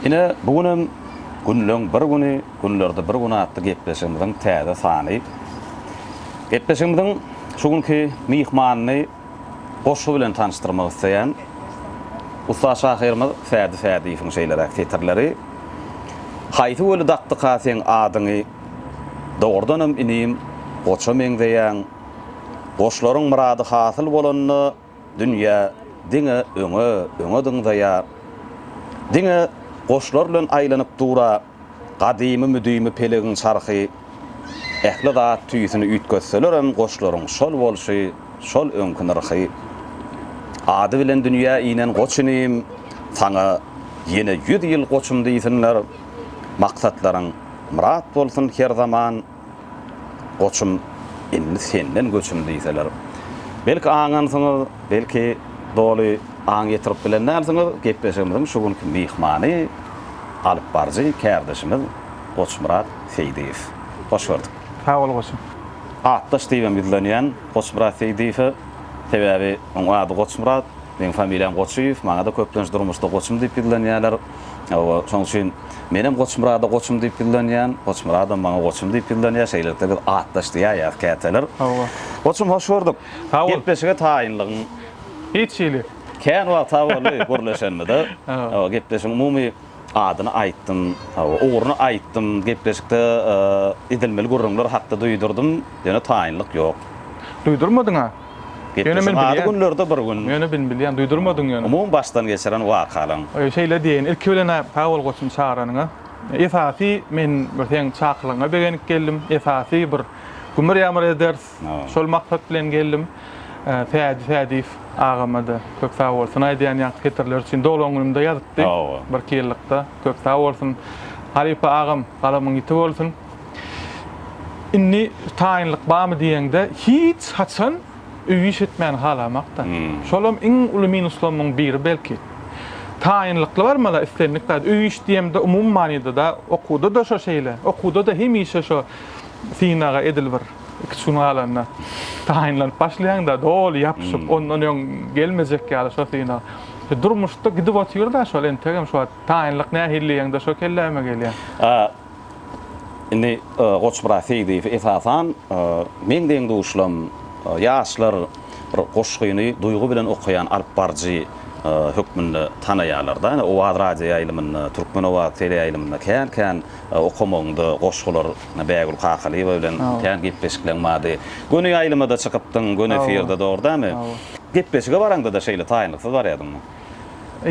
Ine, bu gün hem Günleň bir güni, günlerde bir gün atly gepleşigimiziň täze sany. Gepleşigimiziň şu günki myhmanyny goşgy bilen tanyşdyrmak isleýän ussat şahyrymyz Fädi Fädiýewiň şeýleräk setirleri. Haýsy göli dakdyka seň adyňy, Dogrudanam inim, goça meňzeýäň. Goşlaryň myrady hasyl bolanda dünýä diňe öňe, öňe dyňzaýar. Diňe goşlar bilen aýlanyp dura gadymy müdimi pelegiň çarhy. Ähli zat tüýsüni üýtgetselerem goşlaryň şol bolşy, şol öňki nyrhy. Ady bilen dünýä inen goç inim, saňa ýene ýüz ýyl goçum diýsinler. Maksatlaryň myrat bolsun her zaman. Goçum, indi senden göçüm diýseler, belki aňansyňyz, belki doly aň ýetirip bilen dälsiňiz, gepleşigimiziň şu günki myhmany, alypbaryjy kärdeşimiz Goçmyrat Seýdiýew. Hoş gördük. Sag bol goçum. Atdaş diýibem ýüzlenýän Goçmyrat Seýdiýewe, sebäbi onuň ady Goçmyrat, meniň familiýam Goçyýew, maňa-da köplenç durmuşda goçum diýip ýüzlenýärler. Hawa, şonuň üçin menem Goçmyrada goçum diýip ýyllanýan, Goçmyradam maňa goçum diýip ýyllanýar, şeýlelikde biz atdaş diýäýýäs käteler. Hawa. Goçum, hoş gördük. Sag bol. Gepleşige taýynlygyň. Hiç hili. Kän wagt sag boldy gürleşenimize. Hawa, gepleşigiň umumy adyny aýtdym, hawa, ugruny aýtdym, gepleşikde edilmeli gürrüňler hakda duýdurdym, ýöne taýynlyk ýok. Duýdurmadyň-a? Ýöne men bilýän. Ady günlerde bir gün. Ýöne men bilýän, duýdurmadyň ýöne. Umumy başdan geçiren wakalaň. Şeýle diýeýin, ilki bilen-ä sag bol goçum çagyranyňa. Esasy men bir seň çakylygyňa begenip geldim. Esasy bir gümür-ýamyr eders, şol maksat bilen geldim. Sädi Sädiýew agama-da köp sag bolsun aýdýan ýaňky setirler üçin. Doglan günümde ýazypdy, birki ýyllykda. Köp sag bolsun. Halypa agam, galamyň ýiti bolsun. Indi taýynlyk barmy diýeňde, hiç haçan öý iş etmäni halamak-da. Şolam iň uly minuslamyň biri belki. Taýynlykly barmaly islendik zat. Öý iş diýemde umumy manyda-da, okuwda-da şo şeýle. Okuwda-da hemişe şo synaga edil bir iki-üç gün galanda taýynlanyp başlaýaň-da, doly ýapyşyp, ondan öň gelmejek ýaly şo synag. Durmuşda gidip otyr-da şol, entegem şu wagt taýynlyk nähili diýeňde şo kelläme gelýär. Indi Goçmyrat Seýdiýew esasan meň deň-duşlarym, ýaşlar bir goşgyny duýgy bilen okaýan alyp baryjy hökmünde tanaýarlar-da. Ýöne Owaz radioýaýlymynda, Türkmenowaz teleýaýlymynda kän-kän okamagynda goşgular Bägül Kakalyýewa bilen kän gepleşikleň bardy. Göni ýaýlyma-da çykypdyň, göni efirde dogry dämi? Gepleşige baraňda-da şeýle taýynlyksyz barýardyňmy?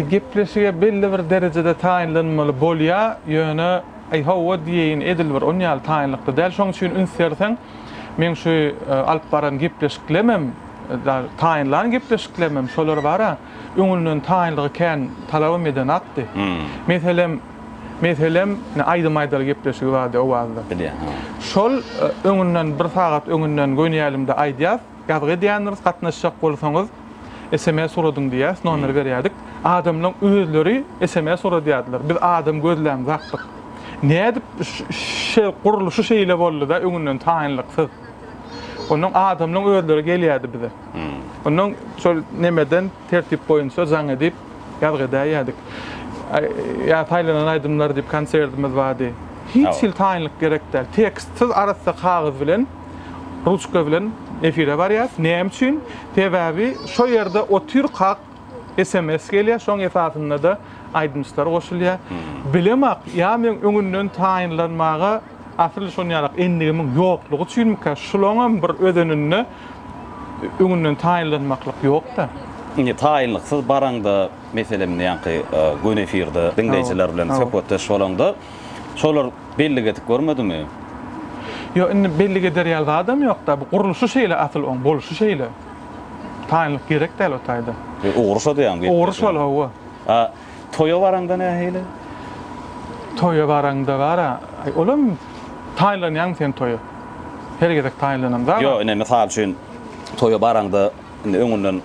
Gepleşige belli bir derejede taýynlanmaly bolýar, ýöne, Aý, hawa diýeýin, edil bir on ýaly taýynlykda däl. Şonuň üçin üns berseň, meň şu alyp baran gepleşiklemem, taýynlan gepleşiklemem, şolar bar-a, öňünden taýynlygy kän talabam edenakdy. Meselem, meselem, ine, aýdym aýdaly gepleşigi bardy Owazda. Bilýän, hawa. Şol öňünden, bir sagat öňünden gönýälimde aýdýas. Ýazgy edýändiris gatnaşjak bolsaňyz sms uradyň diýýäs nomeri berýädik. Adamlaň özleri sms uradýadylar. Biz adam gözlämzakdyk. Nädip ş-ş-şe gurluşy şeýle boldyda öňünden taýynlyksyz. Onnoň adamlaň özleri gelýädi bize. Onnoň şol nemeden tertip boýunça jaň edip ýazgy edäýýädik. Ýa saýlanan aýdymlar diýip konserdimiz bardy. Hiç hili taýynlyk gerek däl. Tekstsiz arassa kagyz bilen. Ruçka bilen efire barýas. Näme üçin? Sebäbi şo ýerde otyrkak sms gelýär, şoň esasynda-da aýdymçylar goşulýar. Bilemok, ýa meň öňünden taýynlanmaga asyl şonýalak endigimiň ýoklugy üçinmika, şulaňam bir özeninde öňünden taýynlanmaklyk ýok-da. Indi taýynlyksyz baraňda, meselem, ýaňky gün efirde diňleýjiler bilen söhbetdeş bolaňda, şolar bellik edip görmedimi? Ýok, indi bellik eder ýaly zadam ýok-da, bu gurluşy şeýle asyl oň, bolşy şeýle. Taýynlyk gerek däl o taýda. E, ugry şo diýýäňmi? Gepleşigiň? Ugry şol, hawa. A toýa baraňda nähili? Toýa baraňda bar-a, olam taýynlanýaňmy sen toýa? Her gezek taýynlanam zat. Ýok, ine, mysal üçin, toýa baraňda indi öňünden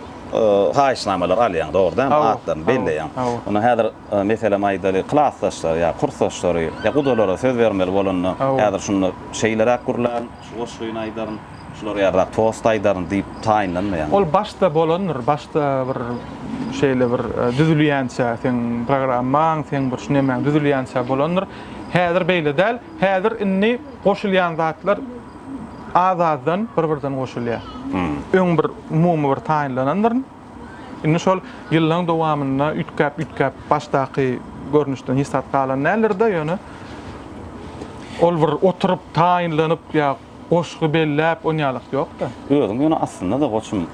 haýyşnamalar alýaň, dogry dälmi? Atlaryny belleýäň. Onda häzir Meselem, aýdaly, klasdaşlar ýa kursdaşlary ýa gudalara söz bermeli bolanda, häzir şunda şeýleräk gürlän, şu goşgyny aýdaryn, şulara ýaryrak tost aýdaryn diýip taýynlanmaýaňmy? Ol başda bolandyr. Başda bir şeýle bir düzülýänçä, seň programmaň, seň bir şu nemäň düzülýänçä bolandyr. Häzir beýle däl. Häzir indi goşulýan zatlar az-azdan bir-birden goşulýar. Öň bir umumy bir taýynlanandyryn. Indi şol ýyllaryň dowamynda üýtgäp-üýtgäp başdaky görnüşden hiç zat galan däldir-de, ýöne ol bir oturyp, taýynlanyp ýa goşgy belläp on ýalyk ýok-da. Özüň ýöne aslynda-da goçum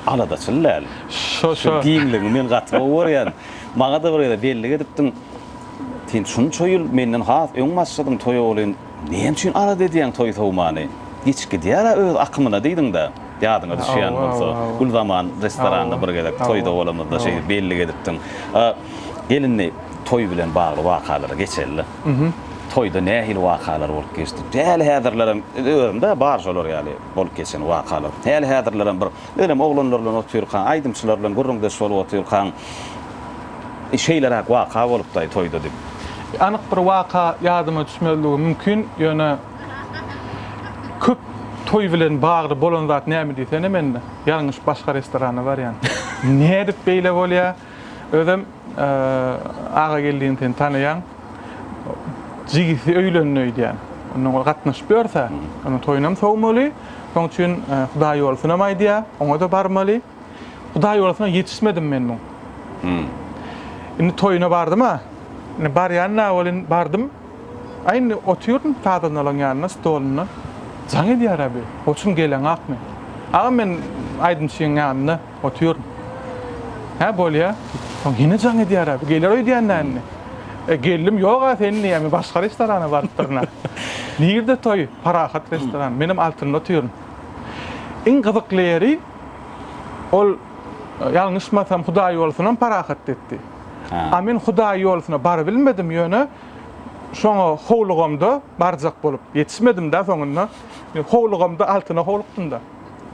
aladaçyl däl. Şo, şo. Giňligiňi men gaty gowy görýän. Maňa-da bir gezek bellik edipdiň. Sen şunça ýyl menden has öň başladyň toýa welin Näme üçin araz edýäň toý-sowmany? Geçip gidýär-ä öz akymyna diýdiň-dä. Ýadyňa düşýän bolsa, Gülzaman restoranda bir gezek toýda bolamyzda şeýdip bellik edipdiň. A gelin indi toý bilen bagly wakalara geçeli-le. Toýda nähili wakalar bolup geçdi? Häli-häzirlerem, özüm-dä bar şolar ýaly bolup geçen wakalar. Häli-häzirlerem bir Özem oglanlar bilen otyrkaň, aýdymçylar bilen gürrüňdeş bolup otyrkaň, şeýleräk waka bolupdy-aý toýda diýip. Anyk bir waka ýadyma düşmezligi mümkin, ýöne köp toý bilen bagly bolan zat näme diýsene mende, ýalňyş başga restorana barýan. Nädip beýle bolýar? Özem Agageldini sen tanaýaň. Jigisi öýlendi öýdýän. Ondan ol gatnaşyp ýörse, onuň toýunam sowmaly. Şoň üçin Hudaýýolsunam aýdýar, oňa-da barmaly. Hudaýýolsuna ýetişmedim men muň. Indi toýuna bardym-a. Indi barýan-a welin, bardym. A indi otyryn sazandalaryň ýanynda, stolynda. Jaň edýär-ä bi. Goçum geleňakmy? Agam men aýdymçynyň ýanynda. Otyr. Hä, bolýa. Soň hine jaň edýär-ä, bu geler öýdýän dälmi? E, geldim, ýog-a seni diýýär, men başga restorana barypdyryn-a. Nirde toý? Parahat restoran. Menem altynda otyryn. Iň gyzykly ýeri, ol, ýalňyşmasam, Hudaýýolsynam Parahat depdi. A men Hudaýýolsyna barybilmedim, ýöne şoňa howlugamda barjak bolup, ýetişmedim-dä soňunda. Howlugamda altyna howlukdym-da.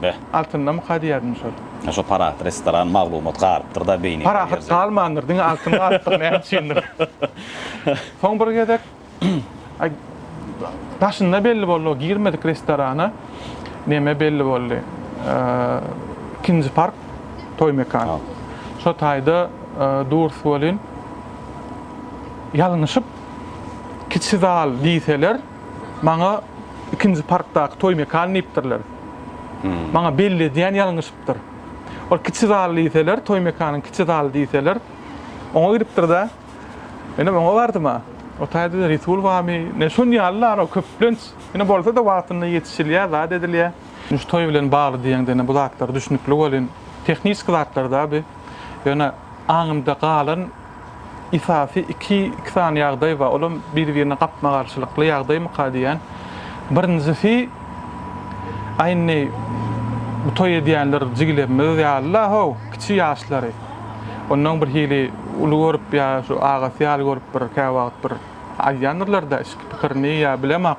Beh. Altyndamy kadýaryn şol. Hä şo parahat restoran maglumat galypdyrda beýnine. Parahat galmandyr diňe altyn galypdyr näme üçindir. Soň bir gezek daşynda belli boldy o girmedik restorana neme belli boldy ikinji park toý mekan şo taýda durs welin ýalňyşyp kiçi zal diýseler Maňa ikinji parkdaky toý mekany diýipdirler. Maňa belli edýän ýalňyşypdyr. Ol kiçi zal diýseler, toý mekanyň kiçi zaly diýseler, oňa gidipdir-de, menem oňa bardym-a. Otaýda-da resul barmy, ine, şon ýaly zat ol köplenç. Ine, bolsa-da wagtynda ýetişilýär, zat edilýär. Indi şu toý bilen bagly diýeňde, ine, bu zatlar düşnükli welin, tehniki zatlar-da bi. Ýöne aňymda galan Esasy iki iki sany ýagdaý bar. Olam biri-birine gapma-garşylykly ýagdaýmyka diýýän. Birinjisi, a indi bu toý edýänler jigilerimiz ýaly-la how, kiçi ýaşlary. Ondan birhili uly görüp ýa şu agasy ýaly görüp bir käwagt bir aýdýandyrlar-da içki pikirini ýa bilemok.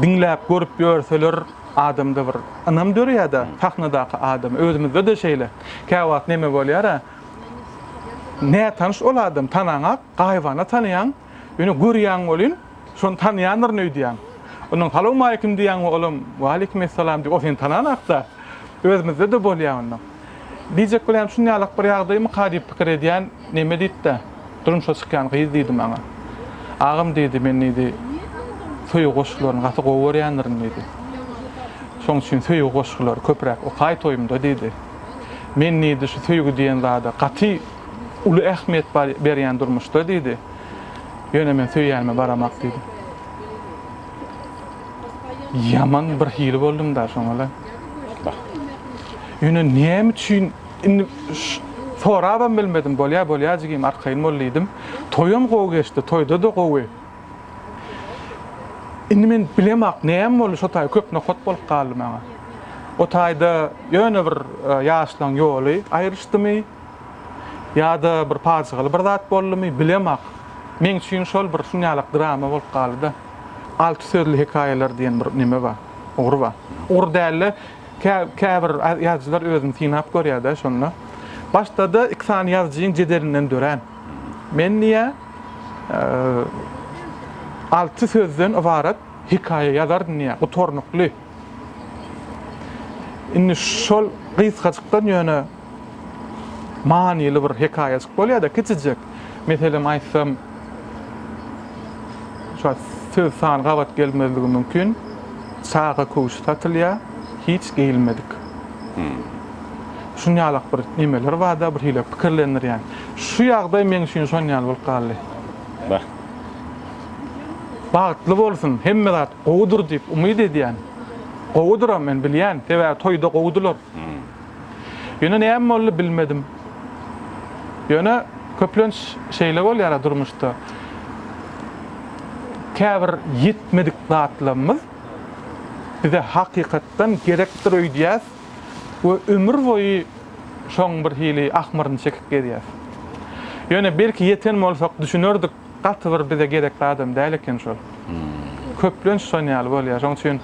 Diňläp, görüp ýörseler adamda bir ynam döreýär-de, sahnadaky adama. Özümizde-de şeýle. Käwagt neme bolýar-a? Nätanyş ol adam, tanaňak, gaýybana tanaýaň, ýöne görýäň welin, şony tanaýandyryn öýdýäň. Ondan salawmaleýkim diýýäň we olam Waleýkimessalam diýip, ol seni tananakda, özümizde-de bolýar onda. Diýjek bolýan şuny ýalak bir ýagdaýmyka diýip pikir edýän, neme diýip-de, durmuşa çykýan gyz diýdi maňa. Agam diýdi, men diýdi, söýgi goşgularyny gaty gowy görýändirin diýdi. Şonuň üçin söýgi goşgulary köpräk okaý toýumda diýdi. Men diýdi şu söýgi diýen zada gaty uly ähmiýet bar berýän durmuşda diýdi. Ýöne men söýýänime baramak diýdi. Ýaman bir hili boldum da şoňala. Bah. Ýöne näme üçin indi sorabam bilmedim bolýa bolýa jigim arkaýyn bol diýdim. Toýam gowy geçdi toýda da gowy Indi men bilemok, näme boldy şo taý köp nokat bolup galdy maňa. O taýda ýöne bir ýaşlaň ýoly aýryşdymy, ýa-da bir pajygaly bir zat boldumy, bilemok. Meň üçin şol bir şunýalak drama bolup galdy-da. Alty sözli hekaýalar diýen bir neme bar, ugry bar. Ugry däl-de, käbir ýazyjylar özüni synap görýär-de şonda. Başda-da iki sany ýazyjyň jedelinden dörän. Men diýýär. Alty sözden ybarat hekaýa ýazardyn diýýär, gutarnykly. Indi şol gysgajykdan ýöne manyly bir hekaýajyk bolýar-da, kiçijek. Meselem aýtsam, şo söz sany gabat gelmezligi mümkin, Çaga köwşi satylýar, hiç geýilmedik. Şun ýalak bir nemeler barda bir hile pikirlendirýän. Şu ýagdaý meň üçin şon ýaly bolup galdy. Bah. Bagtly bolsun, hemme zat gowudyr diýip umyt edýän. Gowudyram men bilýän, sebäbi toýda gowudylar. Ýöne näme boldy bilmedim. Ýöne köplenç şeýle bolýara durmuşda. Käbir ýetmedik zatlamyz. Bize hakykatdan gerekdir öýdýäs we ömür boýy şoň bir hili ahmyryny çekip gezýäs. Ýöne belki ýeten bolsak düşünerdik, gaty bir bize gerekli adam däl eken şol. Köplenç şon ýaly bolýar. Şoň üçin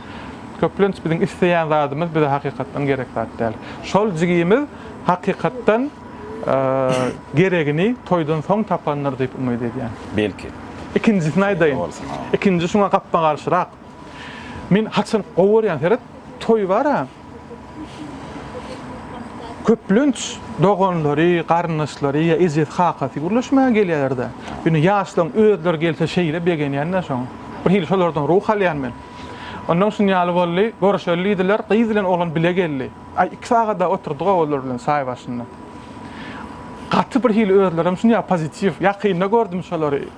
köplenç biziň isleýän zadymyz bize hakykatdan gerek zat däl. Şol jigimiz hakykatdan geregini toýdan soň tapandyr diýip umyt edýän. Belki. Ikinjisini aýdaýyn. Ikinji şuňa gapma-garşyrak. Men haçan gowy görýän seret, toý bar-a. Köplenç doganlary, garyndaşlary ýa ejesi, kakasy gürleşmäge gelýärler-de. Ýöne ýaşlaryň özleri gelse şeýle begenýän-de şoň. Bir hili şolardan ruh alýan men. Onnoň şuny ýaly boldy, görüşeli diýdiler, gyz bilen oglan bile geldi. Aý, iki sagat-a oturdyg-ow olar bilen çaý başynda. Gaty bir hili özlerem şunýa pozitiw. Ýakynda gördüm şolary.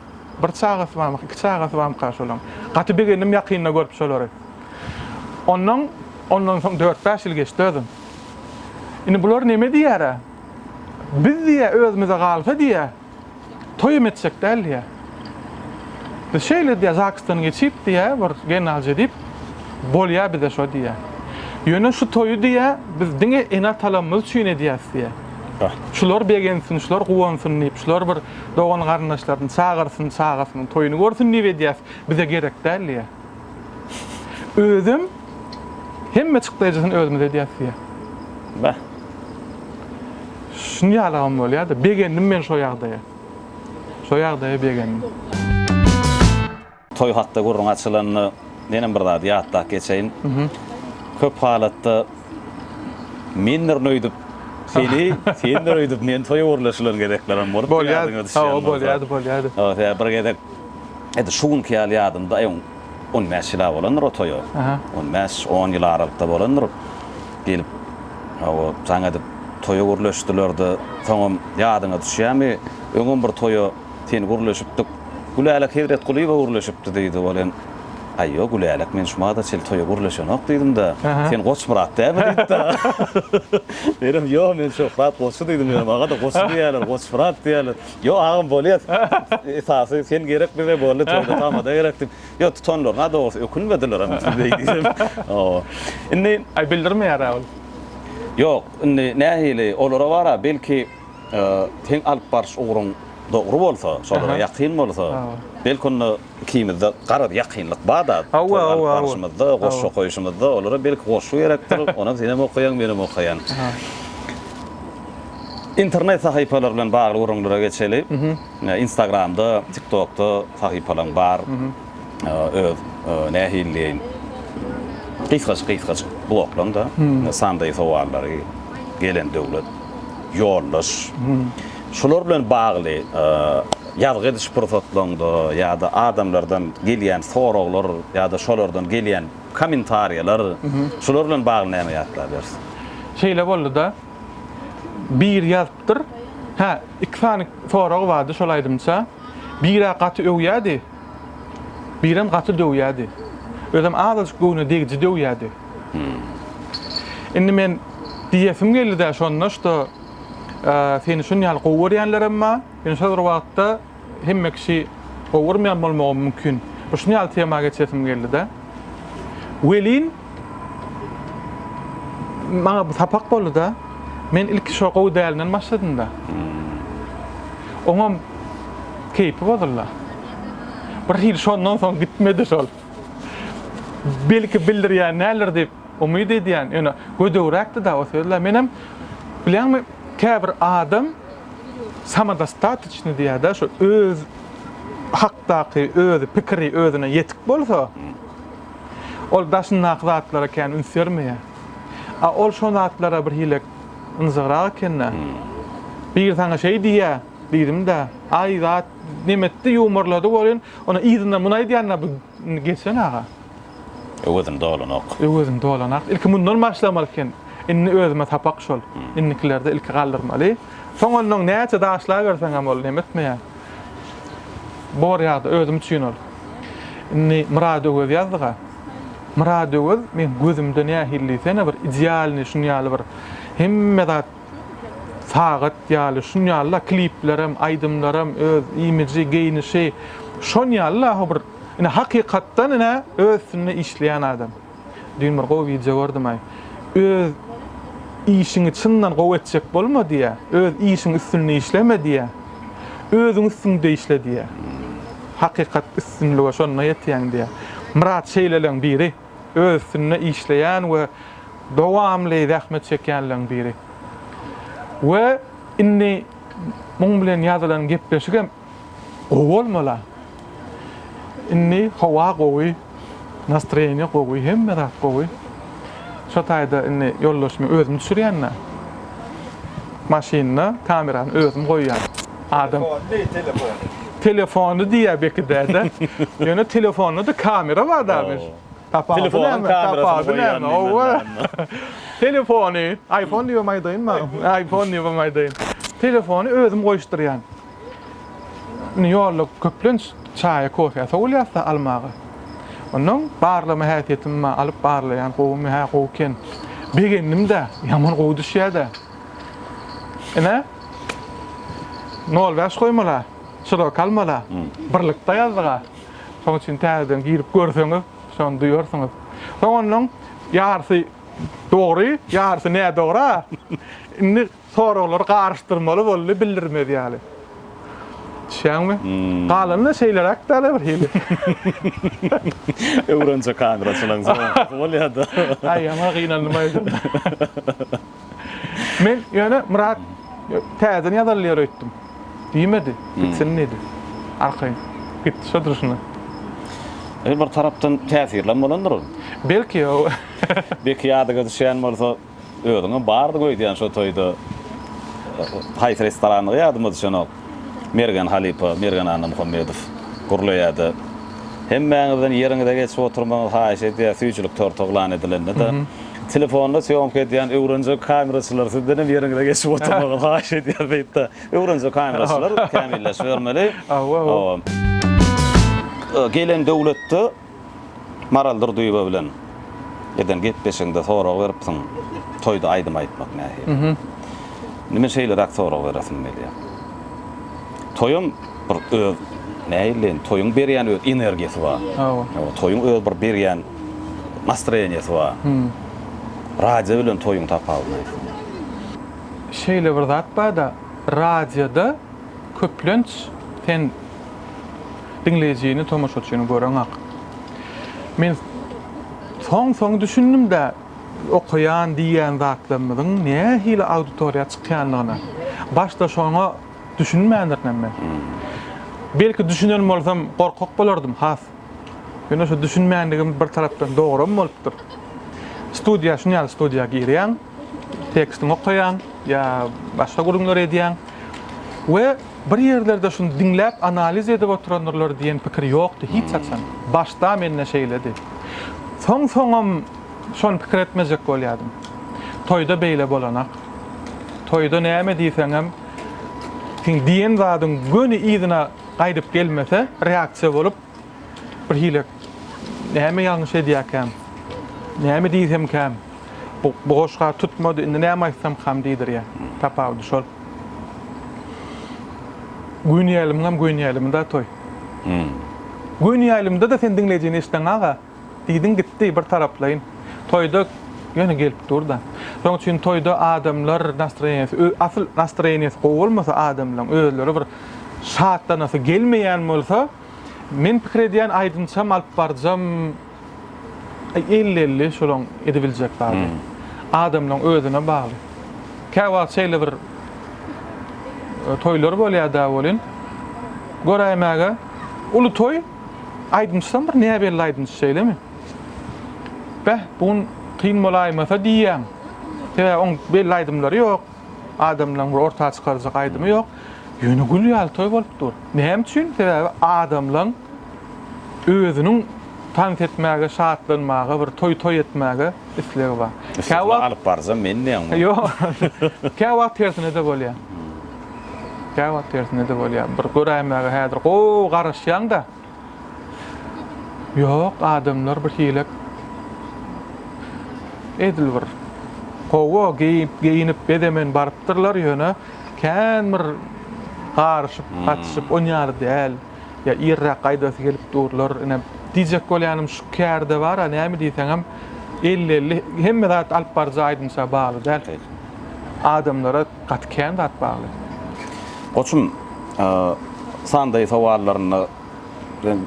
Bir çagasy barmyka, iki çagasy barmyka şolaň. Gaty begendim ýakynda görüp şolary. Onnoň, ondan soň dört-bäş ýyl geçdi özem. Indi bular neme diýer-ä? Biz diýýä, özümize galsa diýýä, Toýam etjek däl diýýä. Biz şeýle diýýä, Zaksdan geçip diýýä, bir genalje diýip, bolýa bize şo diýýä. Ýöne şu toýy diýýä, biz diňe ene-atalarymyz üçin edýäs diýýä. Şular begensin, şular guwansyn diýip, şular bir dogan-garyndaşlaryny çagyrsyn, çagasynyň toýuny görsün diýip edýäs, bize gerek däl diýýä. Özem hemme çykdaýjysyny özümiz edýäs diýýär. Bäh. Şuny ýalagam bolýar-da, begendim men şo ýagdaýa. Şo ýagdaýa begendim. Toý hakda gürrüň açylanda menem bir zady ýatlap geçeýin. Köp halatda mendirin öýdüp seni, sendir öýdüp meni toýa gürleşilen gezeklerem bolup ýadyňa düşýän bolsa. Bolýardy, bolýardy. Ýa bir gezek Edil şu günki ýaly ýadymda, aý, on bäş ýyl-a bolandyr o toýa. On bäş, on ýyl aralykda bolandyr. Gelip, hawa, jaň edip toýa gürleşdiler-de, soňam ýadyňa düşýärmi, öňem bir toýa sen gürleşipdik, Gülälek Hezretgulyýewa gürleşipdi diýdi. Ol hem, Aý, ýok, Gülälek, men şu bada çenli toýa gürleşenok diýdim-de, sen Goçmyrat dälmi diýdi-de. Men hem, Ýok, men Şöhrat goçy diýdim. Ýöne maňa-da goçy diýýärler, Goçmyrat diýýärler. Ýok agam bolýar. Esasy sen gerek bize boldy toýda tamada gerek diýip. Ýok tutanlaryna dogrusy ökünmedilerem siz beý diýsem. Hawa. Indi Aý bildirmeýärä ol. Ýok, indi nähili olara bar-a belki seň alyp baryş ugruň dogry bolsa, şolara ýakyn bolsa, belki onda Ikimizde garaz ýakynlyk bar-da, Hawa, hawa, hawa. barşymyzda, goşgy okaýşymyzda olara belki goşgy gerekdir, onam senem okaýaň, menem okaýan. Internet sahypalary bilen bagly gürrüňlere geçeli. Instagramda, TikTokda sahypalaň bar. Öz, nähili diýeýin, gysgajyk-gysgajyk bloklaň-da, sandaý sowallary, gelen döwlet, ýoldaş. Şular bilen bagly. Ýazgy ediş pursatlaryňda ýa-da adamlardan gelýän soraglar ýa-da şolardan gelýän kommentariýalar, şular bilen bagly näme ýatlabersiň? Şeýle boldy-da, biri ýazypdyr. Hä, iki sany soragy bardy şol aýdymça. Bir-ä gaty öwýärdi, birem gaty döwýärdi. Özem azajyk göwne degiji döwýärdi. Indi men diýesim geldi-de şonda, şto, seni şunýaly gowy görýänlerem bar. Men şol bir wagtda hemme kişi gowurmaýan bolmagym mümkin. Bir şuny ýaly tema geçesim geldi-de. Welin, maňa bu sapak boldy-da. Men ilki şo gowy dälinden başladym-da. Oňam keýpi bozuldy. Bir hili şondan soň gitmedi şol. Belki bildirýän däldir diýip umyt edýän. Ýöne gödegräkdi-da o sözler. Menem, bilýäňmi, Käbir adam samodostatyçnydy ýa-da şu öz hakdaky özi pikiri özüne ýetik bolsa, ol daşyndaky zatlara kän üns bermeýär. A ol şo zatlara birhili ynjygrak eken-dä. Biri saňa şeý diýýä, diýdim-dä, aý zat nemetdi, ýuwmarlady welin, onda yzyndan muny aýdýan-da bu geçen aga. Öwezin dolanok. Öwezin dolanak. Ilki mundan başlamaly eken. Indi özüme sapak şol. Indikilerde ilki galdyrmaly. Soň onnoň näçe daşlaberseňem ol neme etmeýär. Bor ýagda özüm üçin ol. Indi Myrad Öwez ýazdyga. Myrad Öwez meň gözümde nähili diýsene bir idealnyý şun ýaly bir hemme zat sagat ýaly şun ýaly-da kliplerem, aýdymlarym, öz imiji, geýnişi şon ýaly-da howbir Ine hakykatdan ine öz üstünde işleýän adam. Düýn bir gowy wideo gördümaý. Öz işiňi çyndan gowy etjek bolma diýýä. Öz işiň üstünde işleme diýýä. Özüň üstüňde işle diýýä. Hakykat üstünlige şonda ýetýäň diýýä. Myrat şeýleleň biri. Öz üstünde işleýän we dowamly zähmet çekýänleň biri. We indi muň bilen ýazylan gepleşigem Gowy bolmala. Indi howa gowy, nastroýeniýe gowy, hemme zat gowy. Şo taýda indi ýoldaşymy özüm düşürýän-dä. Maşynda kamerany özüm goýýan. Adam. Telefony diýýär, telefony. Telefony diýýär belki däde. Ýöne telefonda-da kamera bar dämir. Tapawudy näme? Telefonyň kamerasyny goýýan diýmeli. Telefony, iPhone diýibem aýdaýynmy? iPhone diýibem aýdaýyn. Telefony özüm goýuşdyrýan. Indi ýolda köplenç çaýa, kofä sowulýas-da almaga. Onnoň barlama häsiýetim bar, alyp barlaýan, gowumy, hä, gowy eken. Begendim-de, ýaman gowy düşýä-de. Ine, nol bäş goýmala, şirok almala, birlikde ýazdyg-a. Şonuň üçin täzeden girip görseňiz, şony duýarsyňyz. Soň onnoň ýarysy dogry, ýarysy nädogry-a. Indi Soraglary garyşdyrmaly boldy bildirmez ýaly. Düşýäňmi? Galanyny şeýleräk dälä bir hili. Öwrenje kaňraçylaň soňunky bolýada. Aý ýaman gynandym aýdym. Men ýöne Myrat täzeden ýazylýar öýtdüm. Diýmedi. Gitsin diýdi. Arkaýyn. Gitdi şo durşuna. Bir tarapdan täsirlem bolandyr ol. Belki ýa. Belki ýadyňa düşýän bolsa. Özüňem bardyň öýdýän şo toýda. Haýsy restorandygy ýadyma düşenok. Mergen halypa, Mergen Annamuhammedow gürleýärdi. Hemmäňizden ýeriňize geçip oturmagyňyzy haýyş edýär, süýjülik torty yglan edilende-de. Telefonda sýomka edýän öwrenje kameraçylar sizdenem ýeriňize geçip oturmagyňyzy haýyş edýär beýtde. Öwrenje kameraçylar kämilleşibermeli. Hawa. Gelen döwletde. Maral Durdyýewa bilen eden gepleşigiňde sorag beripsiň, toýda aýdym aýtmak nähili? Nime şeýleräk sorag beresim gelýär. Toýam bir öz nähilileýin, toýuň berýän öz energiýasy bar. Toýuň öz bir berýän nastroýeniýasy bar. Radio bilen toýuň tapawudy nähili? Şeýle bir zat bar-da, radioda Köplenç sen diňleýjini, tomaşaçyny göreňak. Men soň-soň düşündim-de okaýan diýýän zatlarymyzyň nähili auditoriýa çykýandygyna. Başda şoňa düşünmändirinem men. Belki düşünen bolsam gorkak bolardym has. Ýöne şu düşünmänligim bir tarapdan dogrum bolupdyr. Studiýa, şuny ýaly studiýa girýäň. tekstiňi okaýaň ýa başga gürrüňler edýäň we bir ýerlerde şuny diňläp analiz edip oturandyrlar diýen pikir ýokdy hiç haçan. Başda mende şeýledi. Soň soňam şony pikir etmejek bolýadym. Toýda beýle bolanak. Toýda näme diýseňem seň diýen zadyň göni yzyna gaýdyp gelmese reaksiýa bolup Birhili näme ýalňyş edýäkäm, näme diýsemkäm, bu goşga tutmady, indi näme aýtsamkam diýdirýär. Tapawudy şol. Göni ýalymyňam göni ýalymy-da toý. Göni ýalymda-da sen diňleýjini eşideň aga. Diýdiň gitdi bir taraplaýyn. Toýda ýöne gelip dur-da. Şoň üçin toýda adamlar nastroýeniýesi, ö, asyl nastroýeniýesi gowy bolmasa adamlaň, özleri bir şatlanasy gelmeýän bolsa, men pikir edýän aýdymçam alyp barjam elli-elli şolaň edibiljek zady. Adamlaň özüne bagly. Käwagt şeýle bir toýlar bolýa-da welin, göräýmäge uly toý, Aýdymçysam bir näbelli aýdymçy şeýlemi? Beh, bu gün kyn bolaýmasa diýýän. Sebäbi oň belli aýdymlary ýok. Adamlaryň bir orta çykarjak aýdymy ýok. Ýöne gül ýaly toý bolup dur. Näme üçin? Sebäbi adamlaň özüniň tans etmäge, şatlanmaga, bir toý toý etmäge islegi bar. Kä wagt alyp barjam men diýýäňmi? Ýok. Kä wagt tersine-de bolýar. Käwagt tersine-de bolýar. Bir göräýmäge häzir gowy garaşýaň-da. Ýok, adamlar bir hilek. Edil bir gowy geýip-geýinip, bezemen barypdyrlar, ýöne kän bir garyşyp, gatyşyp, on ýaly däl. Ýa irräk gaýdasy gelip durlar. Ine, diýjek bolýanym şu kär-de bar-a, näme diýseňem, elli-elli. Hemme zat alyp baryjy aýdymça bagly däl. Adamlara. Gaty kän zat bagly. Goçum Sunday sowallarynda bilen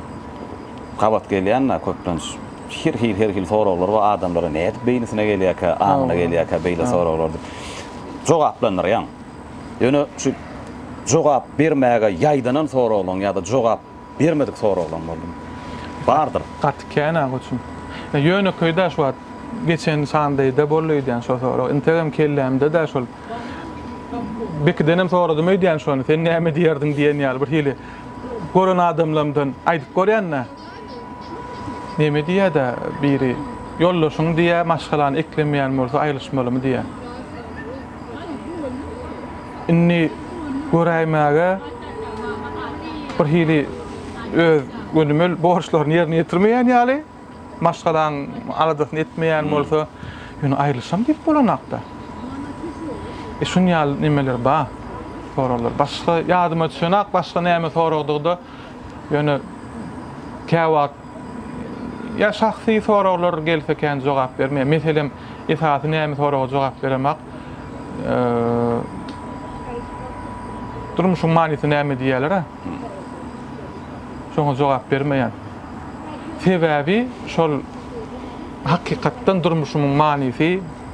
gabat gelýända köplenç her hil her hil soraglar bar adamlara nädip beýnisine gelýärkä aňyna gelýärkä beýle soraglar diýip jogaplandyrýaň. Ýöne şu jogap bermäge ýaýdanan soraglaryň ýa-da jogap Bermedik soraglaň boldum. Bardyr. Gaty kän aga üçin. Ýönekeý dä şu wagt geçen sandaýda boldy öýdýän şo sorag. Integem kellämde dä şol. Bekidenem soradym öýdýän şony. Sen näme diýerdiň diýen ýaly bir hili gören adamlamdan aýdyp görýän-dä. Näme diýýä-dä biri. Ýoldaşyň diýýä maşgalany eklemeýän bolsa aýrylyşmalymy diýýä. Indi göräýmäge bir hili öz gönümel borçlaryny ýerine ýetirmeýän ýaly, maşgalaň aladasyny etmeýän bolsa, ýöne aýrylyşam diýip bolanok-da. E şun ýaly nemeler ba, soraglar. Başga ýadyma düşenok, başga näme soragdygy-da, ýöne käwagt Ýa şahsy soraglar gelse ekän jogap bermeýär. Meselem, esasy näme soraga jogap beremak, durmuşyň manysy näme diýýärler-ä. Şoňa jogap bermeýän. Sebäbi şol hakykatdan durmuşymyň manysy,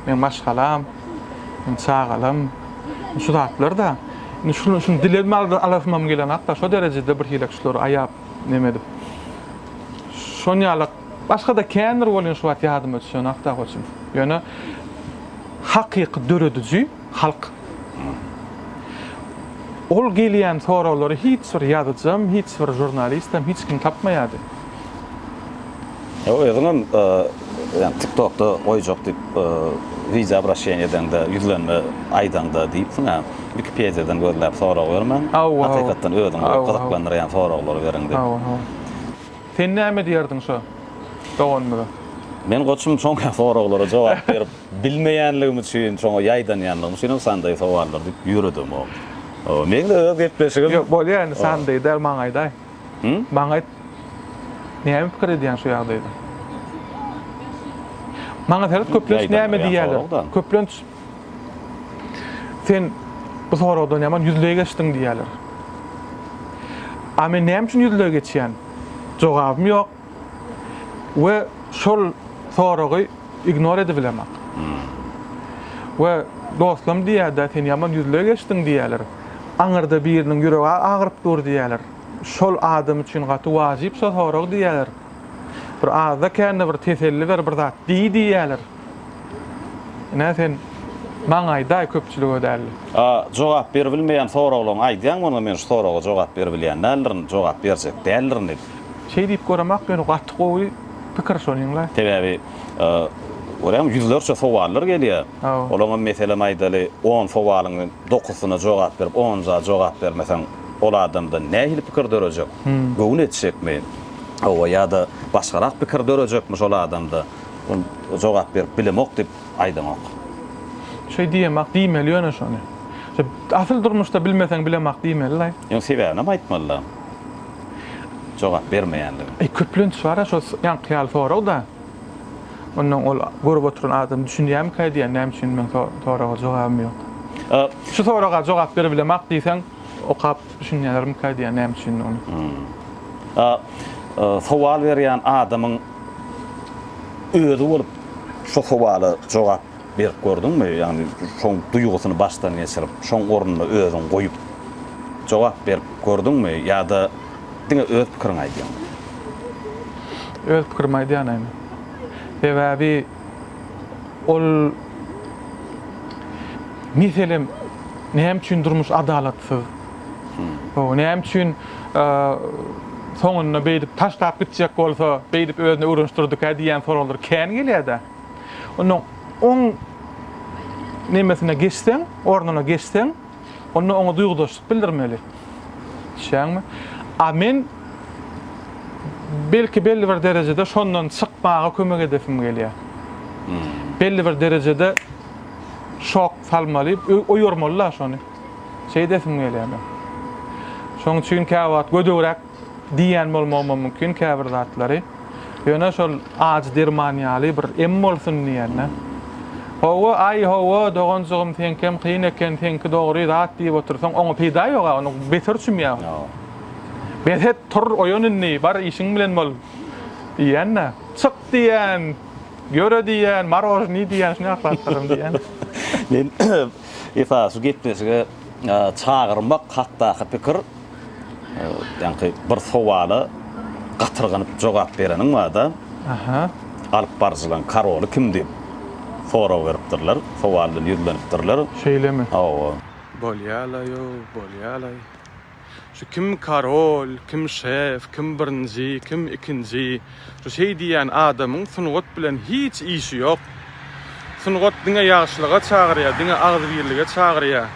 meň maşgalam, meň çagalam, şu zatlar-da. Indi şuny dilemmi alasymam gelenak-da, şo derejede birhili şulary aýap. Neme edip. Şon ýalak başga-da kändir bolýan şu wagt ýadyma düşen hakda goçum. Ýöne hakyky dörediji halk. Ol gelýän soraglary hiç bir ýazyjam, hiç bir žurnalistem hiç kim tapmaýardy. Özüňem ýa tiktokda goýjak diýip wideo obraşeniýa edeňde ýüzlenme aýdaňda diýipsiň a wikipediýadan gözläp sorag bermäň hakykatdan özüňi gyzyklandyrýan soraglary beriň diýip. Hawa hawa. Sen näme diýerdiň şo doganymyza? Men goçum şoňa soraglara jogap berip bilmeýänligim üçin şoňa ýaýdanýanlygym üçin hem sandaý sowallar diýip ýöredemok. Meň-de öz gepleşigim. Ýok bolýa indi sandaý däl maňaýdaý. Hı? Maňa aýt. Näme pikir edýäň şu ýagdaýda? Maňa seret köplenç näme diýýärler? Köplenç sen bu soragdan ýaman ýüzleý geçdiň diýýärler. A men näme üçin ýüzleý geçýän? Jogabym ýok. we şol soragy ignor edibilemok. We dostlam diýýär-de, sen ýaman ýüzle geçdiň diýýärler. Aňyrda biriniň ýüregi agyryp dur diýýärler. Şol adam üçin gaty wajyp şo sorag diýýärler. Bir azda-kände bir teselli ber, bir zat diý diýýärler. Ine sen maňa aýdaý köpçülige dälde. A jogap beribilmeýän soraglaň aýdýaň maňa men şu soraga jogap beribilýän däldirin jogap berjek däldirin diýip. Şeý diýip göremok ýöne gaty gowy pikir şonyňla. Sebäbi görýäňmi ýüzlerçe sowallar gelýär. Olaňam meselem aýdaly on sowalyň dokusyna jogap berip onunjy jogap bermeseň ol adamda nähili pikir dörejek? Göwün etjekmi? Hawa ýa-da başgarak pikir dörejekmi şol adamda? Ol jogap berip bilemok diýip aýdanok. Şeý diýemok, diýmeli ýöne şony. Asyl durmuşda bilmeseň bilemok diýmeli-laý. Ýöne sebäbinem aýtmaly-la. Jogap bermeýänligini. Eý köplenç bar-a şo ýaňky ýaly sorag-da. Onnoň ol görüp oturan adam düşünýärmikä diýýän näme üçin meň soraga jogabym ýok. Şu soraga jogap beribilemok diýseň okap düşünýärlermikä diýýän näme üçin ony. Sowal berýän adamyň özi bolup şu sowala jogap berip gördüňmi? Ýagny şoň duýgusyny başdan geçirip, şoň ornuna özüňi goýup jogap berip gördüňmi ýa-da diňe öz pikiriňi aýdýaňmy? Öz pikirimi aýdýan ene. Sebäbi ol meselem näme üçin durmuş adalatsyz? Hoo näme üçin soňunda beýdip taşlap gitjek bolsa beýdip özüne öwrenişdirdikä diýýän soraglar kän gelýädä. Onda oň nemesine geçseň, ornuna geçseň, onda oňa duýgudaşlyk bildirmeli. Düşýäňmi? A men belki belli bir derejede şondan çykmaga kömek edesim gelýär. Hmm. Belli bir derejede şok salmaly, oýarmaly-la şony. Şeý edesim gelýär men. Şoň üçin käwagt gödegräk diýýän bolmagym mümkin käbir zatlary. Ýöne şol ajy derman ýaly bir em bolsun diýende. Hawa, aý, hawa, doganjygym, seňkem kyn eken, seňki dogry zat diýip otursaň, oňa peýda ýog-a, ony beter çümýär. Bes et, tur, oýan indi, bar işiň bilen bol diýýän-de. Çyk diýýän, ýöre diýýän, morožnyý diýýän, şuny aklatdyryn diýýän. Men Esasy gepleşige çagyrmak hakdaky pikir, ýaňky bir sowala gatyrganyp jogap bereniň bar-da, alypbaryjylaryň karoly kim diýip sorag beripdirler, sowal bilen ýüzlenipdirler. Şeýlemi? Hawa. Bolýa-laý-ow, bolýa-laý. Şu kim karol, kim şef, kim birinji, kim ikinji, şu şeý diýýän adamyň sungat bilen hiç işi ýok. Sungat diňe ýagşylyga çagyrýar, diňe agzybirlige çagyrýar.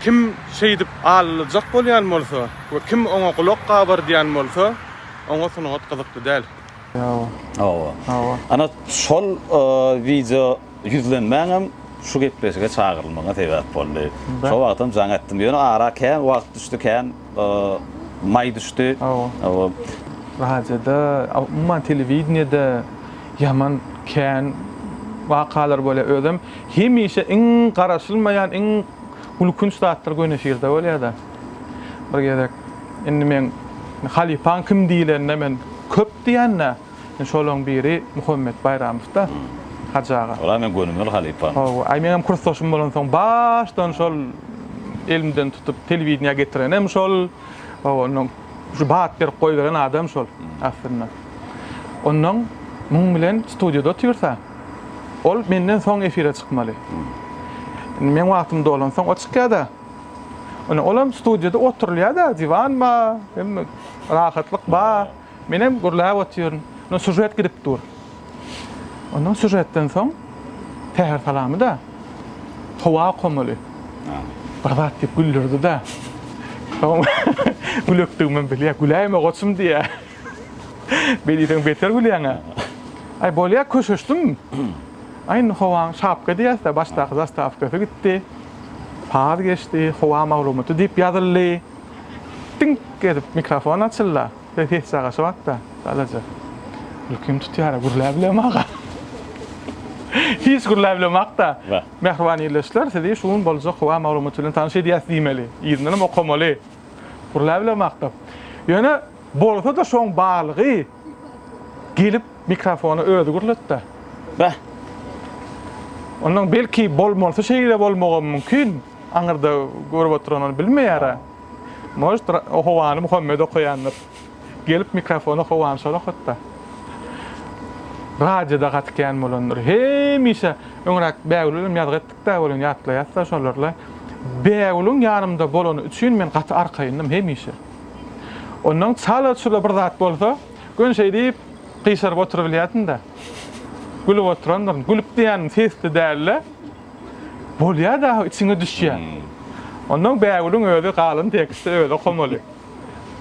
Kim şeýdip alylajak bolýan bolsa we kim oňa gulak gabardýan bolsa, oňa sungat gyzykly däl. Hawa. Hawa. Hawa. Ana şol wideo Ýüzlenmäňem şu gepleşige çagyrylmagyňa sebäp boldy. Şo wagtam jaň etdim. Ýöne ara kän wagt düşdi, kän maý düşdi. Radioda, umuman telewideniýede ýaman kän wakalar bolýar. Özem hemişe iň garaşylmaýan, iň gülkünç zatlar göni efirde bolýar-da. Bir gezek indi men halypaň kim diýlende men köp diýen-dä. Şolaň biri Muhammet Baýramow-da, Hajy aga. Ol-a meň gönümel halypam. Hawa, aý meňem kursdaşym bolansoň başdan şol elimden tutup telewideniýä getirenem şol. Hawa, onnoň şu bat berip goýberen adam şol aslynda. Onnoň muň bilen studiýada otyrsa, ol menden soň efire çykmaly. Indi meň wagtym dolansoň o çykýa-da. Ine, olam studiýada oturylýa-da, diwan bar, hemme rahatlyk bar. Menem gürläp otyryn. Indi sýužet gidip dur. Ondan sýužetden soň Säher salamy-da howa okamaly. Bir zat diýip güldürdi-de. Gülekdigimem bilýär. Güläýme goçum diýýär. Beli sen beter gülýäň-ä. Aý bolýa köşeşdim. Aý indi howaň şapka diýýäs-dä, başdaky zastawkasy gitdi. Saz geçdi, howa maglumaty diýip ýazyldy. Diňk edip mikrofon açylda. Be ses çagaşy batda. Çalaja. Gülkim tutýara gürläp bilem aga. Hiç gürläp bilem akda. Mähriban ildeşler sizi şu gün boljak howa maglumaty bilen tanyş edýäs diýmeli. Yzyndanam okamaly. Gürläp bilem akda. Ýöne bolsa-da şoň barlygy Gelip mikrofony özi gürletdä. Beh. Ondan belki bolmalysy şeýle bolmagam mümkin. Aňyrda görüp oturan ony bilmeýär-ä. Может, Howany Muhammet okaýandyr. Gelip mikrofony Howany şol okatda. Radioda gaty kän bolandyr. Hemişe öňräk Bägül bilen ýazgy etdik-dä welin ýatlaýas-da şolary-la. Bägüliň ýanymda bolany üçin men gaty arkaýyndym hemişe. Ondan çala çula bir zat bolsa, göni şeýdip gyşaryp oturybilýärdim-de. Gülüp oturandyryn. Gülüp diýýänim sesli däl-de, bolýar dagy, içiňe düşýär. Ondan Bägüliň özi galyn tekstde özi okamaly.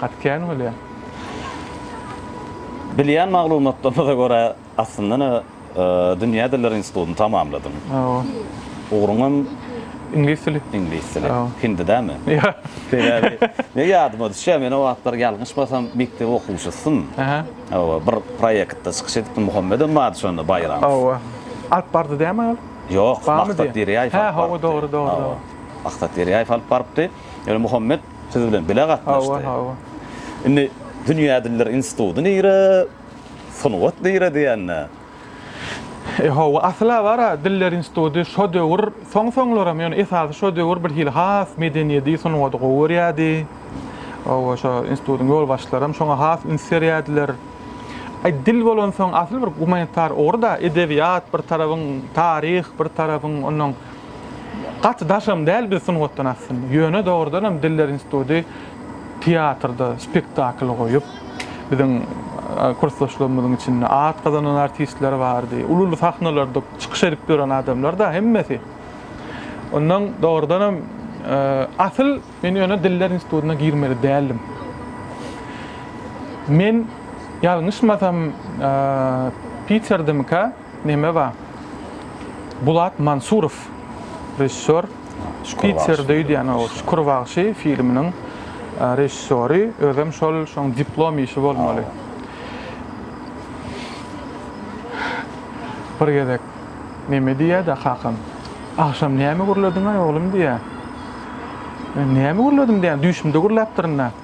Gaty kän bolýar. Bilýän maglumatlarymyza görä, Aslynda-da dünýä dilleri institutyny tamamladyň. Hawa. Ugruňam Iňlis dili. Iňlis dili. Hindi dämi? Ýok. Sebäbi men ýadyma düşýär, men o wagtlar ýalňyşmasam mekdep okuwçysydym. Aha. Hawa, bir proýektde çykyş edipdim, Muhammedem bardy şonda, Baýramow. Hawa. Alyp bardy dämi aýal? Ýok, Maksat Derýaýew alyp bardy. Hä, hawa, dogry, dogry, dogry. Maksat Derýaýew alyp barypdy. Ýöne Muhammet siz bilen bile gatnaşdy. Hawa, hawa. Indi dünýä dilleri instituty nire? Sungat nire diýende. E hawa, asla bar-a, Diller instituty şo döwür, soň-soňlaram, ýöne esasy şo döwür birhili has medeniýedi, sungady gowy görýärdi. Hawa, şo institutyň ýolbaşçylaram şoňa has üns berýärdiler. Aý, dil bolansoň, asyl bir gumanitar ugry-da, edebiýat bir tarabyň, taryh bir tarabyň, onnoň gaty daşam däl biz sungatdan aslynda. Ýöne dogrudanam Diller instituty Teatrda spektakl goýup, biziň kursdaşlarymyzyň içinde at gazanan artistler bardy. Uly-uly sahnalarda çykyş edip ýören adamlar-da hemmesi. Ondan dogrudan hem, asyl men ýöne Diller institutyna girmeli däldim. Men ýalňyşmasam, Piterdemikä? Neme ba? Bulat Mansurow režissýor, Şpitzer döýdýän o Şükür bagşy filminiň režissýory, özem şol şoň diplom işi bolmaly. Bir gezek neme diýýä-de kakam, Agşam näme gürlediňaý oglum diýýä. Men näme gürledim diýýän, düýşümde gürläpdirin-ä.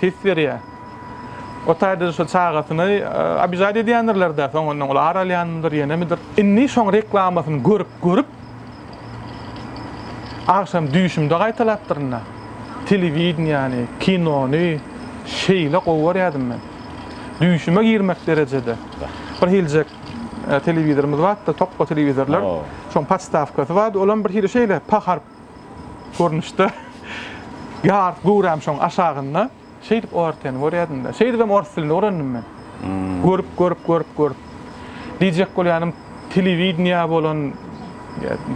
his berýär. O taýda şo çagasyny abijad edýändirler-dä, soňundan ol ar alýanmydyr, ýenemidir. Indi şoň reklamasyny görüp, görüp, agşam düýşümde gaýtalapdyryn-da. Telewideniýäni, kinony şeýle gowy görýärdim men. Düýşüme girmek derejede. Bir hiljek telewizorymyz bardy-da, tokga telewizorlar. Şoň podstawkasy bardy, olam birhili şeýle, paharp. görnüşde ýar göwräm şoň aşagynda şeýdip ORT-ni görýädim-de. Şeýdibem ors dilini öwrendim men. Görüp, görüp, görüp, görüp. Diýjek bolýanym, telewideniýä bolan,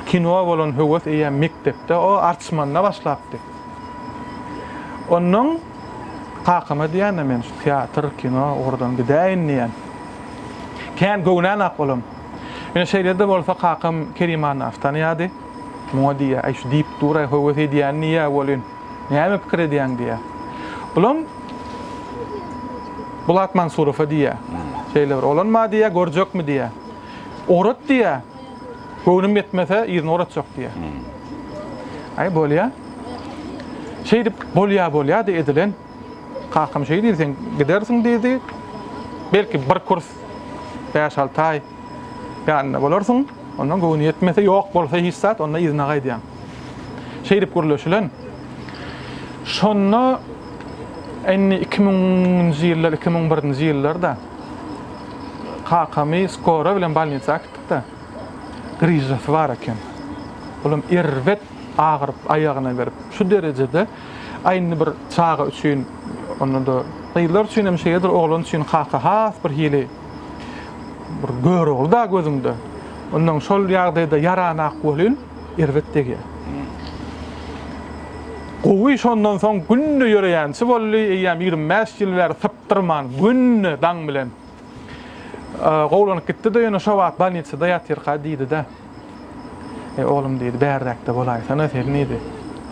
kinoa bolan höwes eýýäm mekdepde, o arçmanda başlapdy. Onnoň kakama diýýän-de men şu teatr, kino ugurdan gidäýin diýýän. Kän göwnän-ak olam. Ýöne şeýle-de bolsa kakam Kerim Annaýewi tanaýardy. Muňa diýýär, Äý, şu diýip dur-aý, höwes edýän diýýär welin, näme pikir edýäň diýýär. Bulam Bulat Mansurowa diýýär. Şeýle bir oglan bar diýýär, görjekmi diýýär. Ugrat diýýär. Göwnüm ýetmese, yzyna ugratjak diýýär. Äý, bolýar. Şeýdip, bolýar-bolýar-da edilen. Kakam şeý diýdi, sen gidersiň diýdi. Belki bir kurs bäş-alty aý ýanynda bolarsyň. Ondan göwni ýetmese, ýok bolsa hiç zat, onda yzyna gaýdýaň. Şeýdip gürleşilen. Şonda indi iki müňünji ýyllar, iki müň birinji ýyllarda kakamy skora bilen bolnisa äkitdik-de, gryžasy bar eken. Olam erbet agyryp, aýagyna berip, şu derejede A indi bir çaga üçin, onda-da gyzlar üçin hem şeýledir, oglan üçin kaka has bir hili bir Görogly-da gözüňde. Ondan şol ýagdaýda ýaranak welin, erbet degýär. Gowy şondan soň günde ýöreýänçi boldy, eýýäm ýigrimi bäş ýyl bäri sypdyrman, günde daň bilen. Gowlanyp gitdi-de, ýöne şo wagt bolnisada ýatyrka diýdi-de. Eý, oglum diýdi, bärdäkde bolaýsana sen diýdi.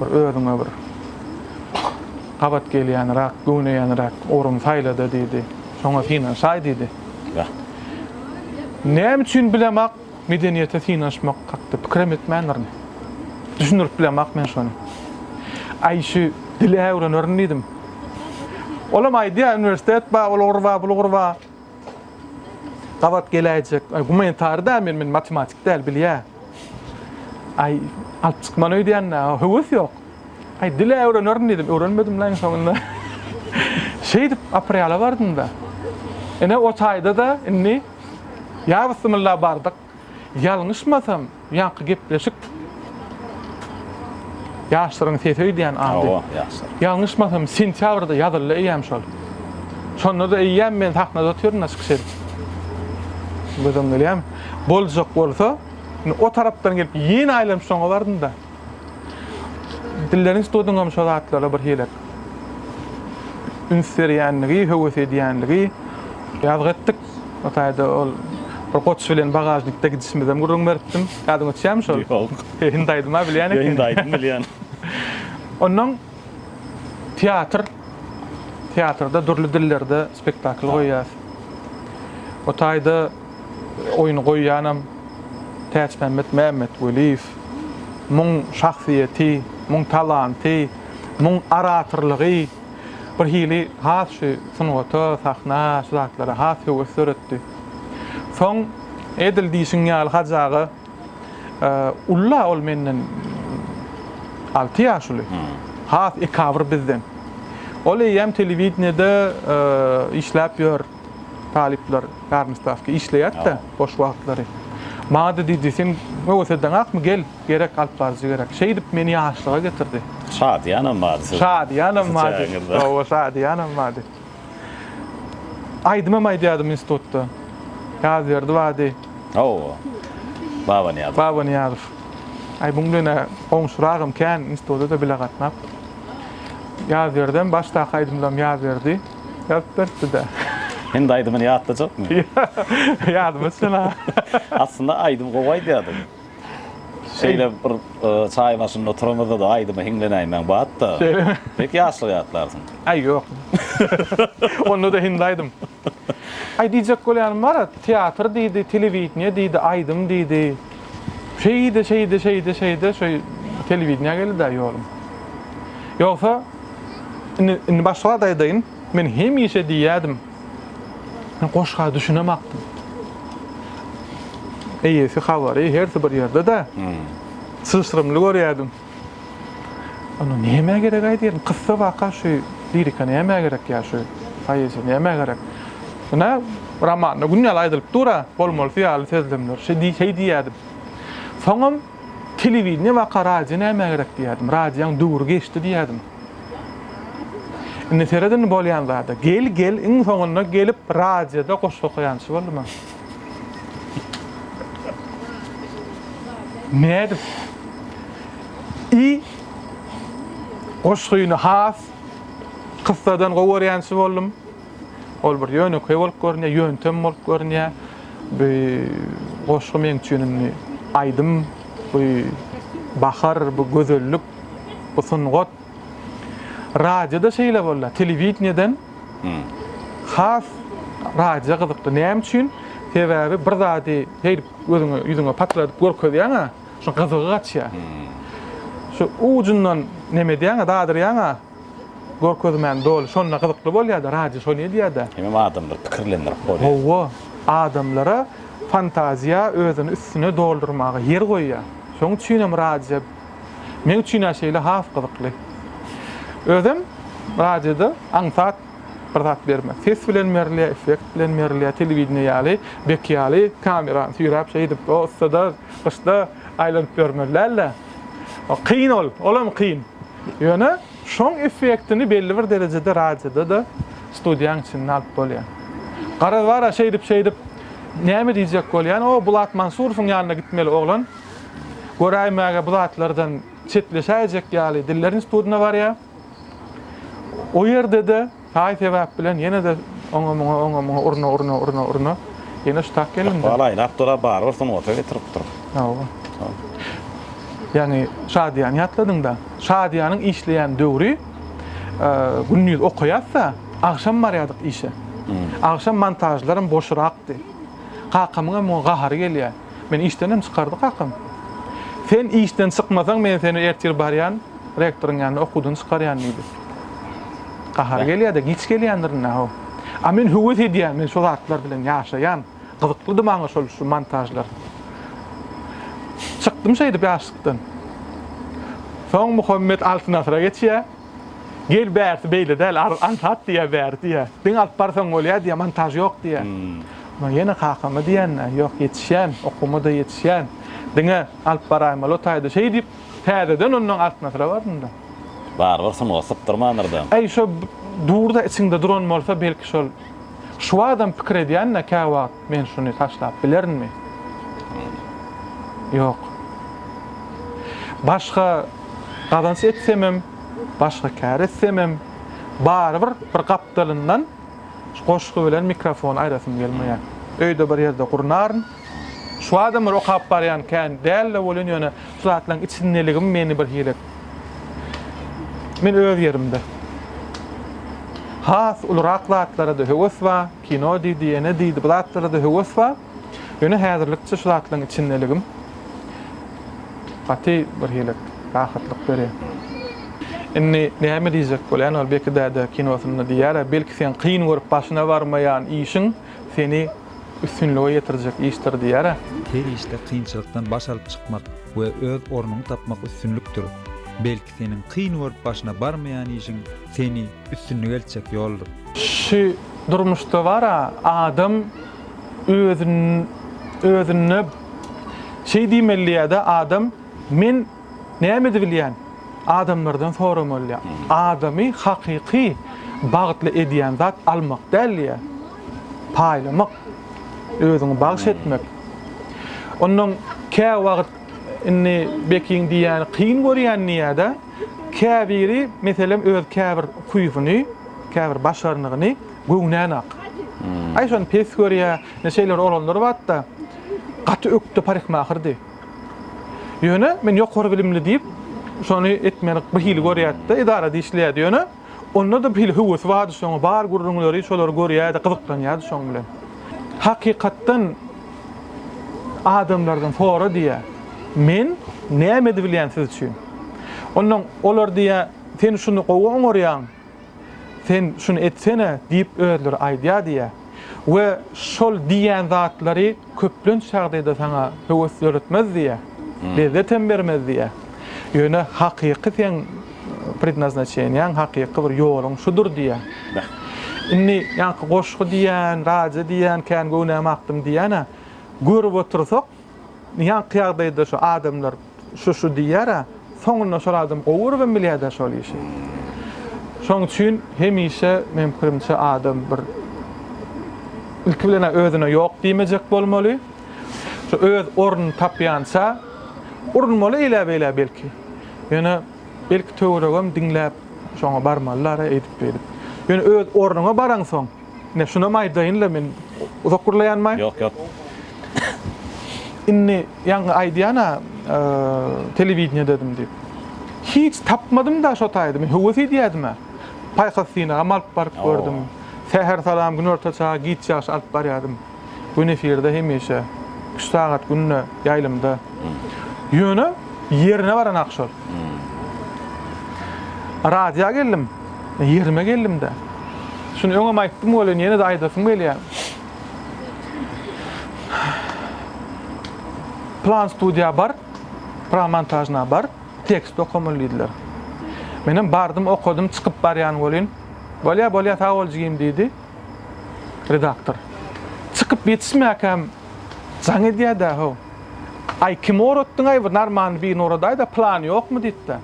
Bir özüňe bir gabat gelýänräk, göwneýänräk orun saýla-da diýdi. Şoňa synanşaý diýdi. Näme üçin bilemak, Medeniýete synanyşmak hakda pikirem etmändirin. Düşündirip bilemok men şony. Aýşy dil-ä öwrenerin diýdim. Olam aýdýar, uniwersitet bar, ol ugur bar, bul ugur bar. Gabat geläýjek. Gumanitary däl men, men matematik däl, bilýä. Aý, alyp çykman öýdýän-dä, höwes ýok. Aý, dil-ä öwrenerin diýdim, öwrenmedim-le iň soňunda. Şeýdip, aprela bardym-da. Ine, o taýda-da indi. Ýa bismilla bardyk. Ýalňyşmasam, ýaňky gepleşik Ýaşlaryň sesi öýdýän ady. Hawa, ýaşlar. Ýalňyşmasam, sentýabrda ýazyldy eýýäm şol. Şonda-da eýýäm men sahnada otyryn-da çykyş edip. Gözüň gelýärmi? Boljak bolsa, indi o tarapdan gelip ýene aýlanyp soňa bardym-da. Dillerini tutudyňam şo zatlara bir hili üns berýänligi, höwes edýänligi. Ýazgy etdik. O taýda ol bir goç bilen bagažnikde gidişimizem gürrüň beripdim. Ýadyňa düşýärmi şol? Ýok. Hindi aýdym-a bilýän ekeniň. Hindi aýdym bilýän. Onnoň Teatr. Teatrda dürli dillerde spektakl goýýas. O taýda oýny goýýanam Täçmämmet Mämmetweliýew. Muň şahsyýeti, muň talanty, muň oratorlygy bir hili has şu sungata, sahna, şu zatlara has höwes döretdi. Soň edil diýşiň ýaly Hajy aga. Ulla ol menden alty ýaş uly. Has ekabr bizden. Ol eýýäm telewideniýede işläp ýör. Talyplar garnystawka işleýärdi-de boş wagtlary. Maňa-da diýdi, Sen höwesedeňakmy, gel, gerek, alyp baryjy gerek. Şeýdip meni ýaşlyga getirdi. Şadyýanam bady siziň. Şadyýanam bady. Hawa, şadyýanam bady. Aýdymam aýdýardym institutda. Ýazberdi bady. Hawa. Babanyýazow. Babanyýazow. Aý muň bilen goňşuragam kän instituta-da bile gatnap. Ýazberdem başdaky aýdymlarym Ýazberdi ýazyp beripdi-de. Indi aýdymyny ýatlajakmy? Ýa, ýadyma düşen-a. Aslynda aýdym gowy aýdýardyň. Şeýle bir çaý başynda oturamyzda-da aýdyma hiňlenäýmäň bat-da. Şeýlemi? Pek ýaşlygy ýatlarsyň. Aý, ýok. Onda-da hindi aýdym. Aý, diýjek bolýanym bar, teatr diýdi, telewideniýe diýdi, aýdym diýdi. Şeýde, şeýde, şeýde, şeýde, şu telewideniýä geldi-dä ýolum. Ýogsa, indi, indi başga zat aýdaýyn. Men hemişe diýýärdim. Men goşga düşünemakdym. Eýesi habary hersi bir ýerde-de. Hmm. Syşrymly görýärdim. Ana näme gerek aýdýaryn? Kyssa waka şu lirika näme gerek ýa şu poeziýa näme gerek? Ine romanda gün ýaly aýdylyp dur-a, bolmalysy ýaly sözlemler. Şeýdi, şeý diýýärdim. Soňam Telewideniýe baka radio nämä gerek diýýärdim. Radioň döwri geçdi diýýärdim. Indi seret indi bolýan zada. Gel gel iň soňunda gelip radioda goşgy okaýançy boldum ha. Nädip? I goşgyny has kyssadan gowy görýänçi boldum. Ol bir ýönekeý bolup görünýär, ýöntem bolup görünýär. Bu goşgy meň üçin indi aýdym, bu bahar, bu gözellik, bu sungat. Radioda şeýle boldy. Telewideniýeden has radio gyzykly. Näme üçin? Sebäbi bir zady şeýdip gözüňe, ýüzüňe patladyp görkezýäň-ä, şoň gyzygy gaçýar. Şu ujundan neme edýäň-ä, dadyrýaň-a. Görkezmän doly şonda gyzykly bolýada radio şony edýada. Hemem adamlar pikirlendirip bolýa. Howwa adamlara fantaziýa özüni üstüne doldurmaga ýer goýýa. Şoň üçinem radio meň üçinä şeýle has gyzykly. Özem radioda aňsat bir zat bermez. Ses bilen berilýa, effekt bilen berilýa, telewideniýe ýaly, bek ýaly kamerany süýräp şeýdip o ussada gyşda aýlanyp bermeli dälde. Kyn ol, olam kyn. Ýöne şoň effektini belli bir derejede radioda-da studiýaň içinde alyp bolýar. Garaz bar-a şeýdip-şeýdip näme diýjek bolýan, o Bulat Mansurowyň ýanyna gitmeli oglan. Göräýmäge bu zatlardan çetleşäýjek ýaly dillerin studýna barýar. O ýerde-de Taý sebäp bilen ýene-de oňa-muňa, oňa-muňa urna, urna, urna, urna. Ýene şu tak geldim-de. Ykbal aýlap dur-a, barybir sungata getirip dur. Hawa. Ýagny Şadyýany ýatladyň-da. Şadyýanyň işleýän döwri, gündiz okaýas-da, agşam barýardyk işe. Agşam montažlaram boşurakdy. Kakamyň hem muňa gahary gelýär. Meni işdenem çykardy kakam. Sen işden çykmasaň, men seni ertir barýan, Rektoryň ýanyna okuwdan çykarýan diýdi. Gahary gelýä-de, giç gelýändir indi-haw. A men höwes edýän, men şo zatlar bilen ýaşaýan. Gyzyklydy maňa şol şu montažlar. Çykdym şeýdip ýaşlykdan. Soň Muhammet Altyn Asyra geçýä. Gel bärsi beýle däl, aňsat diýýä bäri diýýä. Diňe alyp barsaň bolýa diýýä, montaž ýok diýýä. Men ýene kakama diýýän-ä, ýok ýetişýän, okuwma-da ýetişýän. Diňe alyp baraýmaly otaýda şeý diýip, Täzeden ondan artyna syra bardym-da. Barybir sungat sypdyrmandyr-da. Äý, şo dur-da içiňde duran bolsa, belki şol. Şu wagtam pikir edýän-de, käwagt men şuny taşlap bilerinmi? Ýok. Başga gazanç etsemem, başga kär etsemem, barybir bir gapdalyndan şu goşgy bilen mikrofony aýrasym gelmeýär. Öýde bir ýerde gurnaryn. Şu adamlary okap barýan kän dälde welin ýöne şu zatlaryň içindeligim meni bir hili Men öz ýerimde. Has ulurak zatlara-da höwes ba, kino diýdi, ýene diýdi, bu zatlara-da höwes ba, ýöne häzirlikçe şu zatlaryň içindeligim gaty bir hili rahatlyk berýär. Indi näme diýjek bolýan ol Beki däde kinosynda diýýär-ä, belki sen kyn görüp başyna barmaýan işiň seni üstünlige ýetirjek işdir diýer. Her işde kynçylykdan baş alyp çykmak we öz ornuňy tapmak üstünlikdir. Belki seniň kyn görüp başyna barmaýan işiň seni üstünlige eltjek ýoldur. Şu durmuşda bar-a adam özüne şeý diýmeli diýýär-de, adam, men Näme edibilýän? Adamlardan soramalydyr. Adamy hakyky bagtly edýän zat almak däl-de, paýlamak, özüňi bagyş etmek. Onnoň käwagt indi Bekiň diýýäni kyn görýän diýýär-de, käbiri, meselem, öz käbir huýsuny, käbir başarnygyny göwnänok. Aý, şony pes görýär. Ine, şeýle bir oglanlar bardy-da, gaty ökde parykmahyrdy. Ýöne men ýokary bilimli diýip, şony etmelik bir hili görýärdi-de, edarada işleýärdi. Ýöne, onda-da bir hili höwesi bardy şoňa, bar gürrüňleri, şolary görýärdi, gyzyklanýardy şoň bilen. Hakykatdan adamlardan sora diýýär. Men näme edibilýän siz üçin? Onnoň olar diýýär, sen şuny gowy oňarýaň. Sen şuny etsene diýip özleri aýdýar diýýä we şol diýýän zatlary köplenç ýagdaýda saňa höwes döretmez diýýä, lezzet hem bermez diýýä. Ýöne hakyky seň prednaznaçeniýaň, hakyky bir ýoluň şudur diýýä. Indi ýaňky goşgy diýýän, radio diýýän, kän göwnämi akdym diýýän-ä. Görüp otursak, Ýaňky ýagdaýda şu adamlar şu şu diýýärä, soňunda şol adam gowy göribem bilýädä şol işi. Şoň üçin hemişe meň pikirimçe adam bir ilki bilenä özüne ýok diýmejek bolmaly. Şu öz ornuny tapýança urunmaly eýläbeýlä belki. Ýöne belki töweregem diňläp şoňa barmalylar-a eýdip-beýdip. Ýöne öz ornuňa baraňsoň, Ine, şunam aýdaýyn-la men. Uzak gürleýänmi? Ýok, ýok. Indi ýaňky aýdýan-a, telewideniýededim diýip. Hiç tapmadym-da şo taýda. Men höwes edýädim-ä. Paýhas synagam alyp baryp gördüm. Säher salam, günorta çagy, giç ýagşy alyp barýardym. Gün efirde hemişe. Üç sagat günde ýaýlymda. Ýöne ýerine baranak şol. Radioa geldim. Ýerime geldim-de. Şuny öňem aýtdym welin ýene-de aýdasym gelýär. Plan studiýa bar, plan montažna bar, tekst okamaly diýdiler. Menem bardym, okadym, çykyp barýan welin, Bolýar, bolýar, sag bol jigim diýdi. Redaktor. Çykyp ýetişmäkäm jaň edýä-dä how. Aý, kimi oratdyň-aý bu narmany birini oradaý-da, plany ýokmy diýip-de.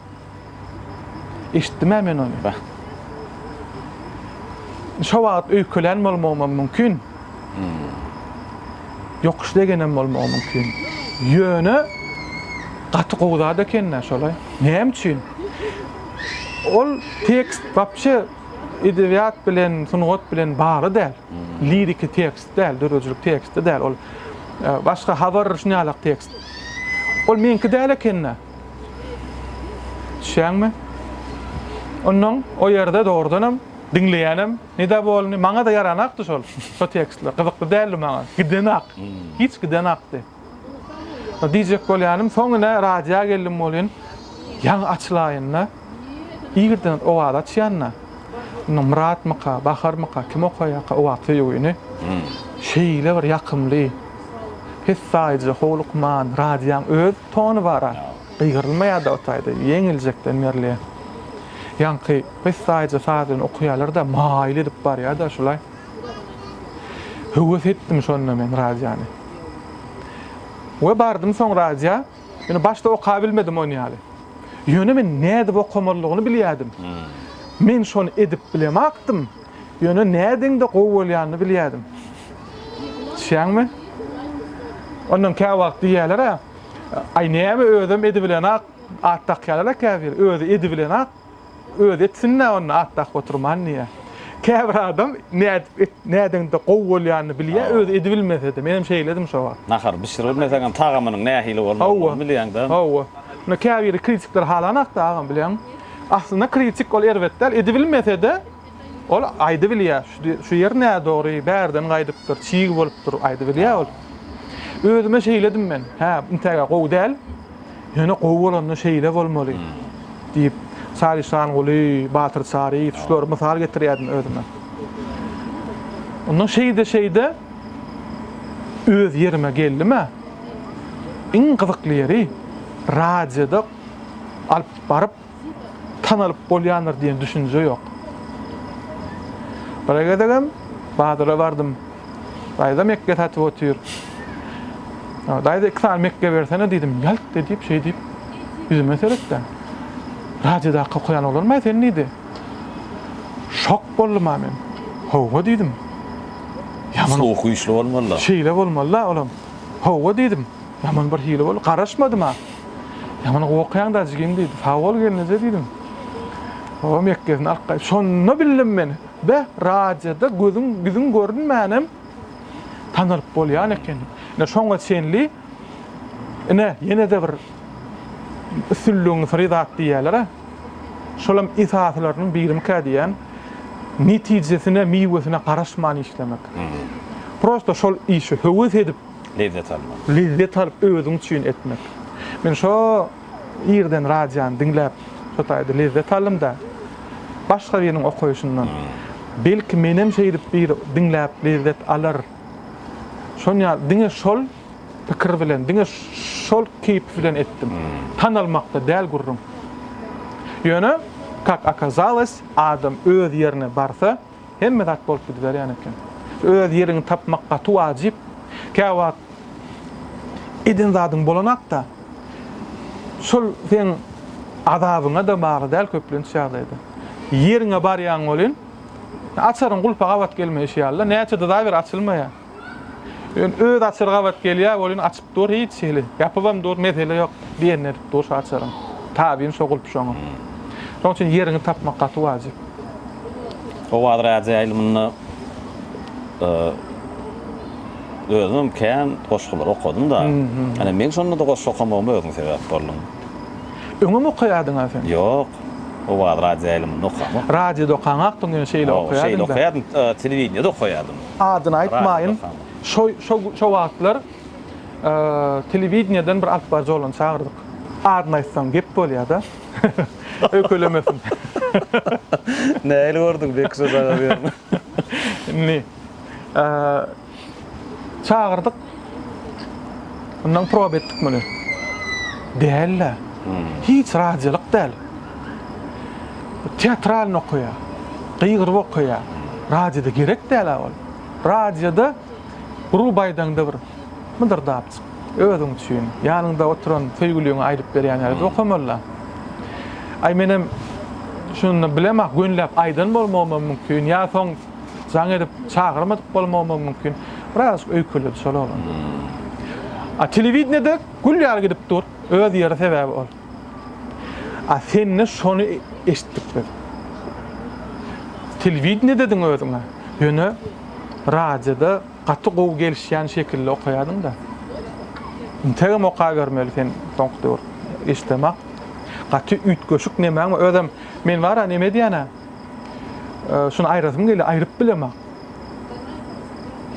Eşitdim-ä men ony, beh. Şo wagt öýkelän bolmagymam mümkin. Ýokuş degenem bolmagy mümkin. Ýöne, gaty gowy zat eken-dä şol-aý. Näme üçin? Ol tekst wapşe Edebiýat bilen, sungat bilen bagly däl. Liriki tekst däl, döredijilik teksti däl. Ol başga habar şuny ýalak tekst. Ol meňki däl ekeni. Düşýäňmi? Ondan o ýerde dogrudanam diňleýänem nida bolny, maňa-da ýaranakdy şol. Şo tekstler gyzykly däldi maňa. Gidenak. Hiç gidenakdy. Diýjek bolýanym, soň ine radioýa geldim welin, ýaňy açylaýynda, irden Owaz açýanda, indi Myratmyka, Baharmyka, kim okaýarka Owaz söýgüni, şeýle bir ýakymly, pessaýyja, howlukman, radioň öz tony bar-a, gygyrylmaýar-da o taýda, ýeňiljekden berlä. Ýaňky pessaýyja sazyny okaýarlar-da, maýyl edip barýar-da şulaý. Höwes etdim şonda men radiony. We bardym soň radiýa. Ýöne başda okabilmedim ony ýaly. Ýöne men nädip okamalydygyny bilýärdim. Men şony edip bilemakdym. Ýöne nädeňde gowy bolýanyny bilýärdim. Düşýäňmi? Ondan kä wagt diýýärler-ä, Aý näme özem edibilenak at dakýarlar-a käbir, özi edibilenak. Özi etsin-dä onda Atdak oturman diýýä. Käbir adam nädip et, nädeňde gowy bolýanyny bilýä, özi edibilmese-de. Menem şeýledim şo wagt. Nahar bişiribilmeseňem tagamynyň nähili bolmalydygyny bilýäň-dä. Hawa. Indi käbiri kritikler halanakda agam bilýäňmi? Aslynda kritik ol erbet däl, edibilmese-de, Ol aýdybilýä, şu ýer nädogry, bärden gaýdypdyr, çig bolupdyr, aýdybilýä ol. Özüme şeýledim men, hä, intäge gowy däl, ýöne gowy bolanda şeýle bolmaly, diýip, Salişanguly, Batyr Çaryýew şulary mysal getirýärdim özüme. Ondan şeýde-şeýde öz ýerime geldim-ä. Iň gyzykly ýeri, radioda alyp baryp, tanalyp bolýandyr diýen düşünje ýok. Bir gezegem bazara bardym. Daýza mekge satyp otyr. Daýza iki sany mekge bersene diýdim. Ýalt diýip şeý diýip ýüzüme seretdi. Radioda okaýan olarmy sen diýdi. Şok boldum ha men. Howwa diýdim. Ýa munyň sowugy güýçli bolmaly. Şeýle bolmaly olam. Howwa diýdim. Ýaman bir hili boldy. Garaşmadym-a. Ýaman gowy okaýaň daş jigim diýdi. Sag bol gelneje diýdim. Babam ýekgesini alyp gaýtdy. Şonda bildim men, beh, radioda gözüň, ýüzüň görünmänem tanalyp bolýan eken. Ine şoňa çenli ine ýene-de bir üstünligiň syry zat diýýäler-ä. Şolam esasylarynyň birimikä diýýän. Netijesine, miwesine garaşman işlemek. Prosta şol işe höwes edip lezzet almak. Lezzet alyp özüň üçin etmek. Men şo irden radiony diňläp şo taýda lezzet aldym-da, başga biriniň okaýşyndan. Belki menem şeýdip biri diňläp lezzet alar. Şon ýaly diňe şol pikir bilen, diňe şol keýp bilen etdim. Tanalmakda däl gürrüň. Ýöne kak okazalos adam öz ýerine barsa, Hemme zat bolup gidiberýän eken. Öz ýeriňi tapmak gaty wajyp. Käwagt eden zadyň bolanakda, şol seň azabyňa-da bagly däl köplenç ýagdaýda. Ýeriňe barýaň welin, açaryň gulpa gabat gelmeýşi ýaly-da, näçe dyzaber açylmaýar. Ýöne öz açar gabat gelýär welin açyp dur hiç hili. Ýapybam dur mesele ýok. Diýenini edip dur şu açaryň. Tabyn şo gulp şoňa. Şoň üçin ýeriňi tapmak gaty wajyp. Owaz radio ýaýlymynda özümem kän goşgulary okadym-da. Ine meň şonda-da goşgy okamagyma özüň sebäp bolduň. Öňem okaýardyň-a sen? Ýok. Owaz radio ýaýlymynda okamok. Radioda okaňakdyň ýöne şeýle okaýardyň-da. Şeýle okaýardym, telewideniýede okaýardym. adyny aýtmaýyn, şo şo şo wagtlar telewideniýeden bir alyp baryjy oglany çagyrdyk. Adyny aýtsaň gep bolýar-da. Ökülemesin. Nähili gördüň Beki şo çaga bu ýerde? Indi çagyrdyk. Mundan prob etdik muny. Däl-de. Hiç radiolyk däl. Teatralny okaýa. Gygyryp okaýa. Radioda gerek däl-ä ol. Radioda gruba aýdaňda bir mydyrdapjyk özüň üçin, ýanyňda oturan söýgüliňe aýdyp berýän ýaly okamaly-da. Aý menem şuny bilemok, gönläp aýdan bolmagym hem mümkin. Ýa soň Jaň edip çagyrmadyk bolmagymam mümkin. Birazajyk öýkeledi şol oglan. A telewideniýede gül ýaly gidip dur. Öz ýeri sebäbi ol. A sende şony eşitdik biz. Telewideniýedediň özüň-ä. Ýöne radioda gaty gowy gelişýän şekilli okaýadyň-da. Integem okabermeli sen soňky döwür. Eşidemok. Gaty üýtgeşik nemäň bar? Özem men bar-a neme edýän-ä? Ee, şunu aýrasym gelýär, aýryp bilemok.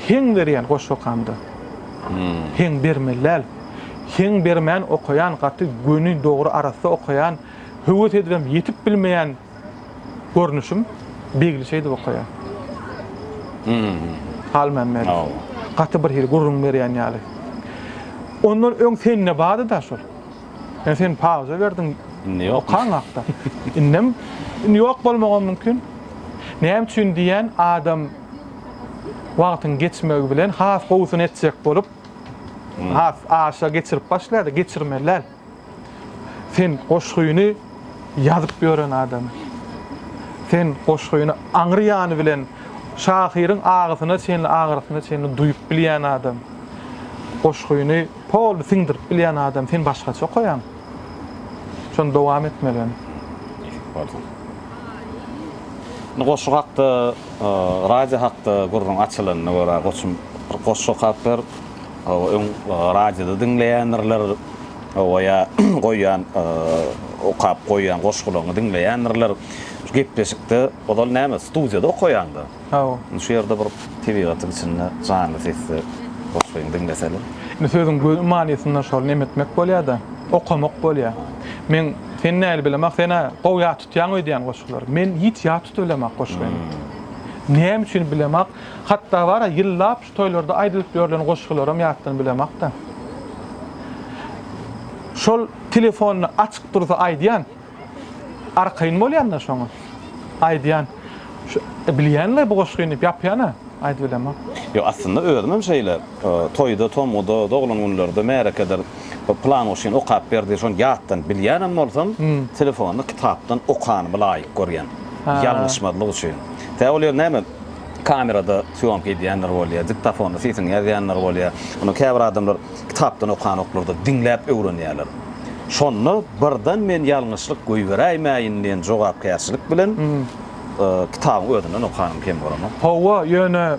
Heň berýän goş okamda. Hmm. Heň bermeli däl. Heň bermän okaýan gaty göni, dogry, arassa okaýan, höwes edibem ýetip bilmeýän görnüşim Begli şeýdip okaýar. Hmm. Halmämmet. Gaty bir hili gürrüň berýän ýaly. Ondan öň sende bardy-da şol. Ýa sen pauza berdiň? Indi ýok. Okaň hakda. Indem indi ýok bolmagam mümkin. Näme üçin diýýän adam wagtyň geçmegi bilen has gowusyny etjek bolup, has aşa geçirip başlaýar-da, geçirmeli däl. Sen goşgyny ýazyp ýören adam. Sen goşgyny aňry ýany bilen şahyryň agysyna çenli, agyrysyna çenli duýup bilýän adam. Goşgyny Poly siňdirip bilýän adam sen başgaça okaýaň. Şony dowam etmelen. Eşit bolsun. Indi goşgy hakda, radio hakda gürrüň açylanyna görä goçum bir goşgy okap ber. Hawa öň radioda diňleýändirler. Hawa ýa goýýan okap goýýan goşgularyňy diňleýändirler. Şu gepleşikde ozal näme studiýada okaýaňda. Hawa. Indi şu ýerde bir tebigatyň içinde janly sesde goşgyňy diňleseler. Indi sözüň göni manysynda şol neme etmek bolýa-da, okamak bolýa. Men seni näli bilem ah, sen-ä gowy ýat tutýaň öýdýän goşgulary. Men hiç ýat tutup bilem ak goşgyny. Näme üçin bilem ak. Hatda bar-a, ýyllap şu toýlarda aýdylyp ýörlen goşgularam ýatdan bilem ak-da. Şol telefonyny açyk dursa aýdýan. Arkaýyn bolýan-da şoňa. Aýdýan. Bilýän-le bu goşgyny diýip ýapýan-a. Aýdyp bilemok. Ýok, aslynda özüm hem şeýle. Toýda, tomguda, doglan günlerde, märekedir plan goşgyny okap ber diýip, şony ýatdan bilýän hem bolsam, telefonda kitapdan okanymy laýyk görýän. Ýalňyşmazlyk üçin. Tä ol ýer näme, kamerada sýomka edýänler bolýar, diktofonda sesiňi ýazýanlar bolýar. Ony käbir adamlar. Kitapdan okanoklarda diňläp öwrenýärler. Şonda birden men ýalňyşlyk goýberäýmäýin diýen jogapkärçilik bilen kitabyň özünden okanym kem bolanok. Hawa, ýöne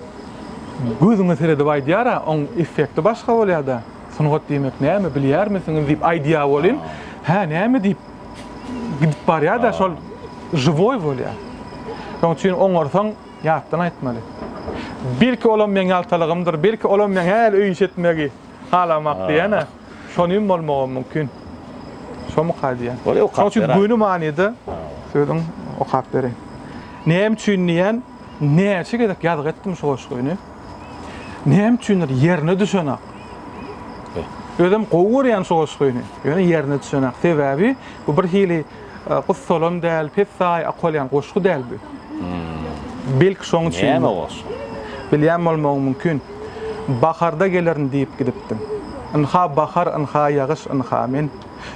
gözüňe seredip aýdýar-a, oň effekti başga bolýar-da. Sungat diýmek näme, bilýärmisiňiz diýip aýdýar welin, hä, näme diýip gidip barýar-da, şol žiwoý bolýar. Şonuň üçin oňarsaň. Ýatdan aýtmaly. Belki olam meň ýaltalygymdyr, belki olam meň häli öýünç etmegi halamak diýen-ä. Şonyn bolmagam mümkin. Şomuka diýen. Şoň üçin göni manyda sözüň okap bereýin. Näme üçin diýen, näçe gezek ýazgy etdim şu goşgyny. Näme üçindir ýerine düşenak. Özüm gowy görýän şu goşgyny. Ýöne ýerine düşenak. Sebäbi bu birhili Gussalam däl, pessaý akolýan goşgy däl bu. Belki şoň üçin. Näme goşgy? Bilýän bolmagyň mümkin. Baharda gelerin diýip gidipdiň. Ynha bahar, ynha ýagyş, ynha men.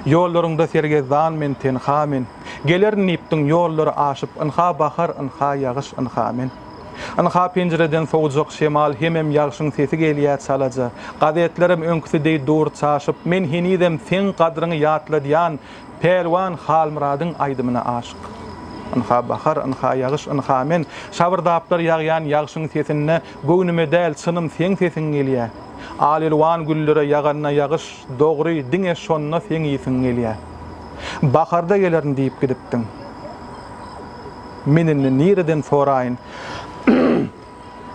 Ýollaryňda sergezdan men, tenha men. Gelerin diýipdiň ýollary aşyp, ynha bahar, ynha ýagyş, ynha men. Ynha penjireden sowujak şemal hemem ýagşyň sesi gelýä çalaja. Gazetlerem öňküsi deý dur çaşyp, men henizem seň gadryňy ýatladýan Pälwan Halmyradyň aýdymyna aşyk. Ynha bahar, ynha ýagyş, ynha men, Şabyrdaplar ýagýan ýagşyň sesinde Göwnüme däl, çynym seň sesiň gelýä. Al-elwan güllere ýaganda ýagyş, Dogry, diňe şonda seň ýysyň gelýä. Baharda gelerin diýip gidipdiň. Men indi nireden soraýyn?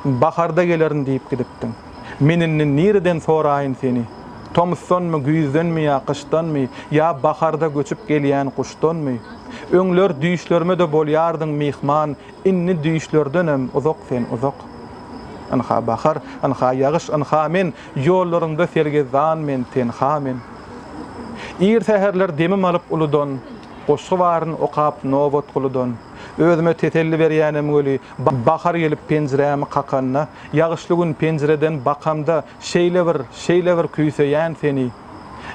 Baharda gelerin diýip gidipdiň. Men indi nireden soraýyn seni? Tomusdanmy, güýzdenmi ýa gyşdanmy, ýa baharda göçüp gelýän guşdanmy? Öňler düýşlerime-de bolýardyň myhman, indi düýşlerdenem uzak sen, uzak. Ynha, bahar, ynha, ýagyş, ynha men, ýollaryňda sergezdan men, tenha men. Ir säherler demim alyp uludan, goşgy baryn okap nobat guludan. Özüme teselli berýänem weli, Bahar gelip penjirämi kakanda, Ýagyşly gün penjireden bakamda, Şeýle bir, şeýle bir küýseýän seni.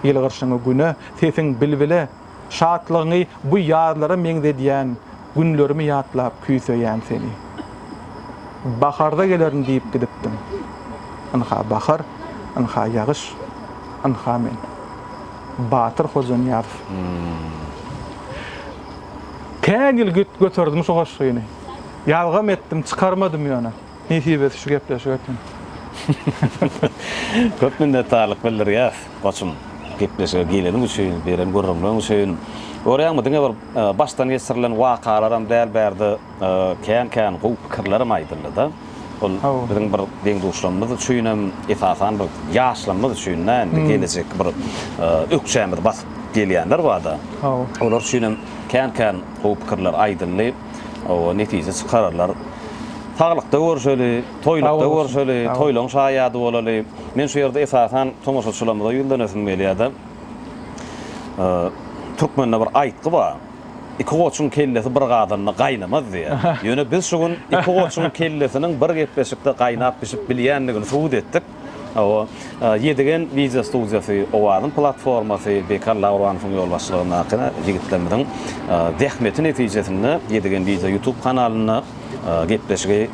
Ýyl gyrşyňy güne, sesiň bilbile, Şatlygyňy bu ýazlara meňzedýän, Günlerimi ýatlap küýseýän seni. Baharda gelerin diýip gidipdim, Ynha bahar, ynha ýagyş, ynha men. Batyr Hojanyýazow. Tä gil göterdim şu goşgyny. Ýazgam etdim, çykarmadym ýöne. Nesibesi şu gepleşik eken. Köp minnetdarlyk bildirýäs, goçum. Gepleşige geleniň üçin, beren gürrüňleň üçin. Görýäňmi, diňe bir başdan geçirilen wakalaram däl, bärde kän-kän gowy pikirlerem aýdyldy-da. Ol biziň bir deň-duşlarymyz üçinem, esasan bir ýaşlarymyz üçin-dä, indi gelejek bir ökjämizi basyp gelýänler bar-da. Olar üçinem kän-kän gowy pikirler aýdyldy. Hawa, netije çykararlar. Saglykda görşeli, toýlukda görşeli, toýlaň şaýady bolaly. Men şu ýerde esasan tomaşaçylarymyza ýüzlenesim gelýär-de. Türkmende bir aýtgy bar. Iki goçuň kellesi bir gazanda gaýnamaz diýýär. Ýöne biz şu gün iki goçuň kellesiniň bir gepleşikde gaýnap-bişip bilýändigini subut etdik. Hawa, Ýedigen wideo studiýasy, Owazyň platformasy, Bekar Lauranowyň ýolbaşçylygyndaky ýigitlerimiziň zähmeti netijesinde Ýedigen wideo YouTube kanalynda gepleşigi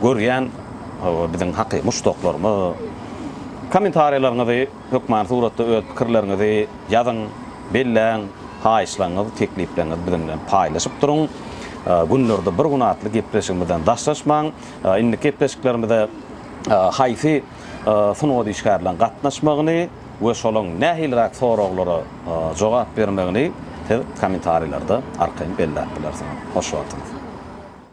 görýän biziň hakyky muşdaklarymyz. Kommentariýalaryňyzy, hökmany suratda öz pikirleriňizi ýazyň, belläň, haýyşlaryňyzy, teklipleňizi biziň bilen paýlaşyp duruň. Günlerde bir gün atly gepleşigimizden daşlaşmaň. Indiki gepleşiklerimize haýsy sungat işgärleriň gatnaşmagyny we şolaň nähiliräk soraglara jogap bermegini siz kommentariýlerde arkaýyn belläp bilersiňiz. Hoş bolsuň!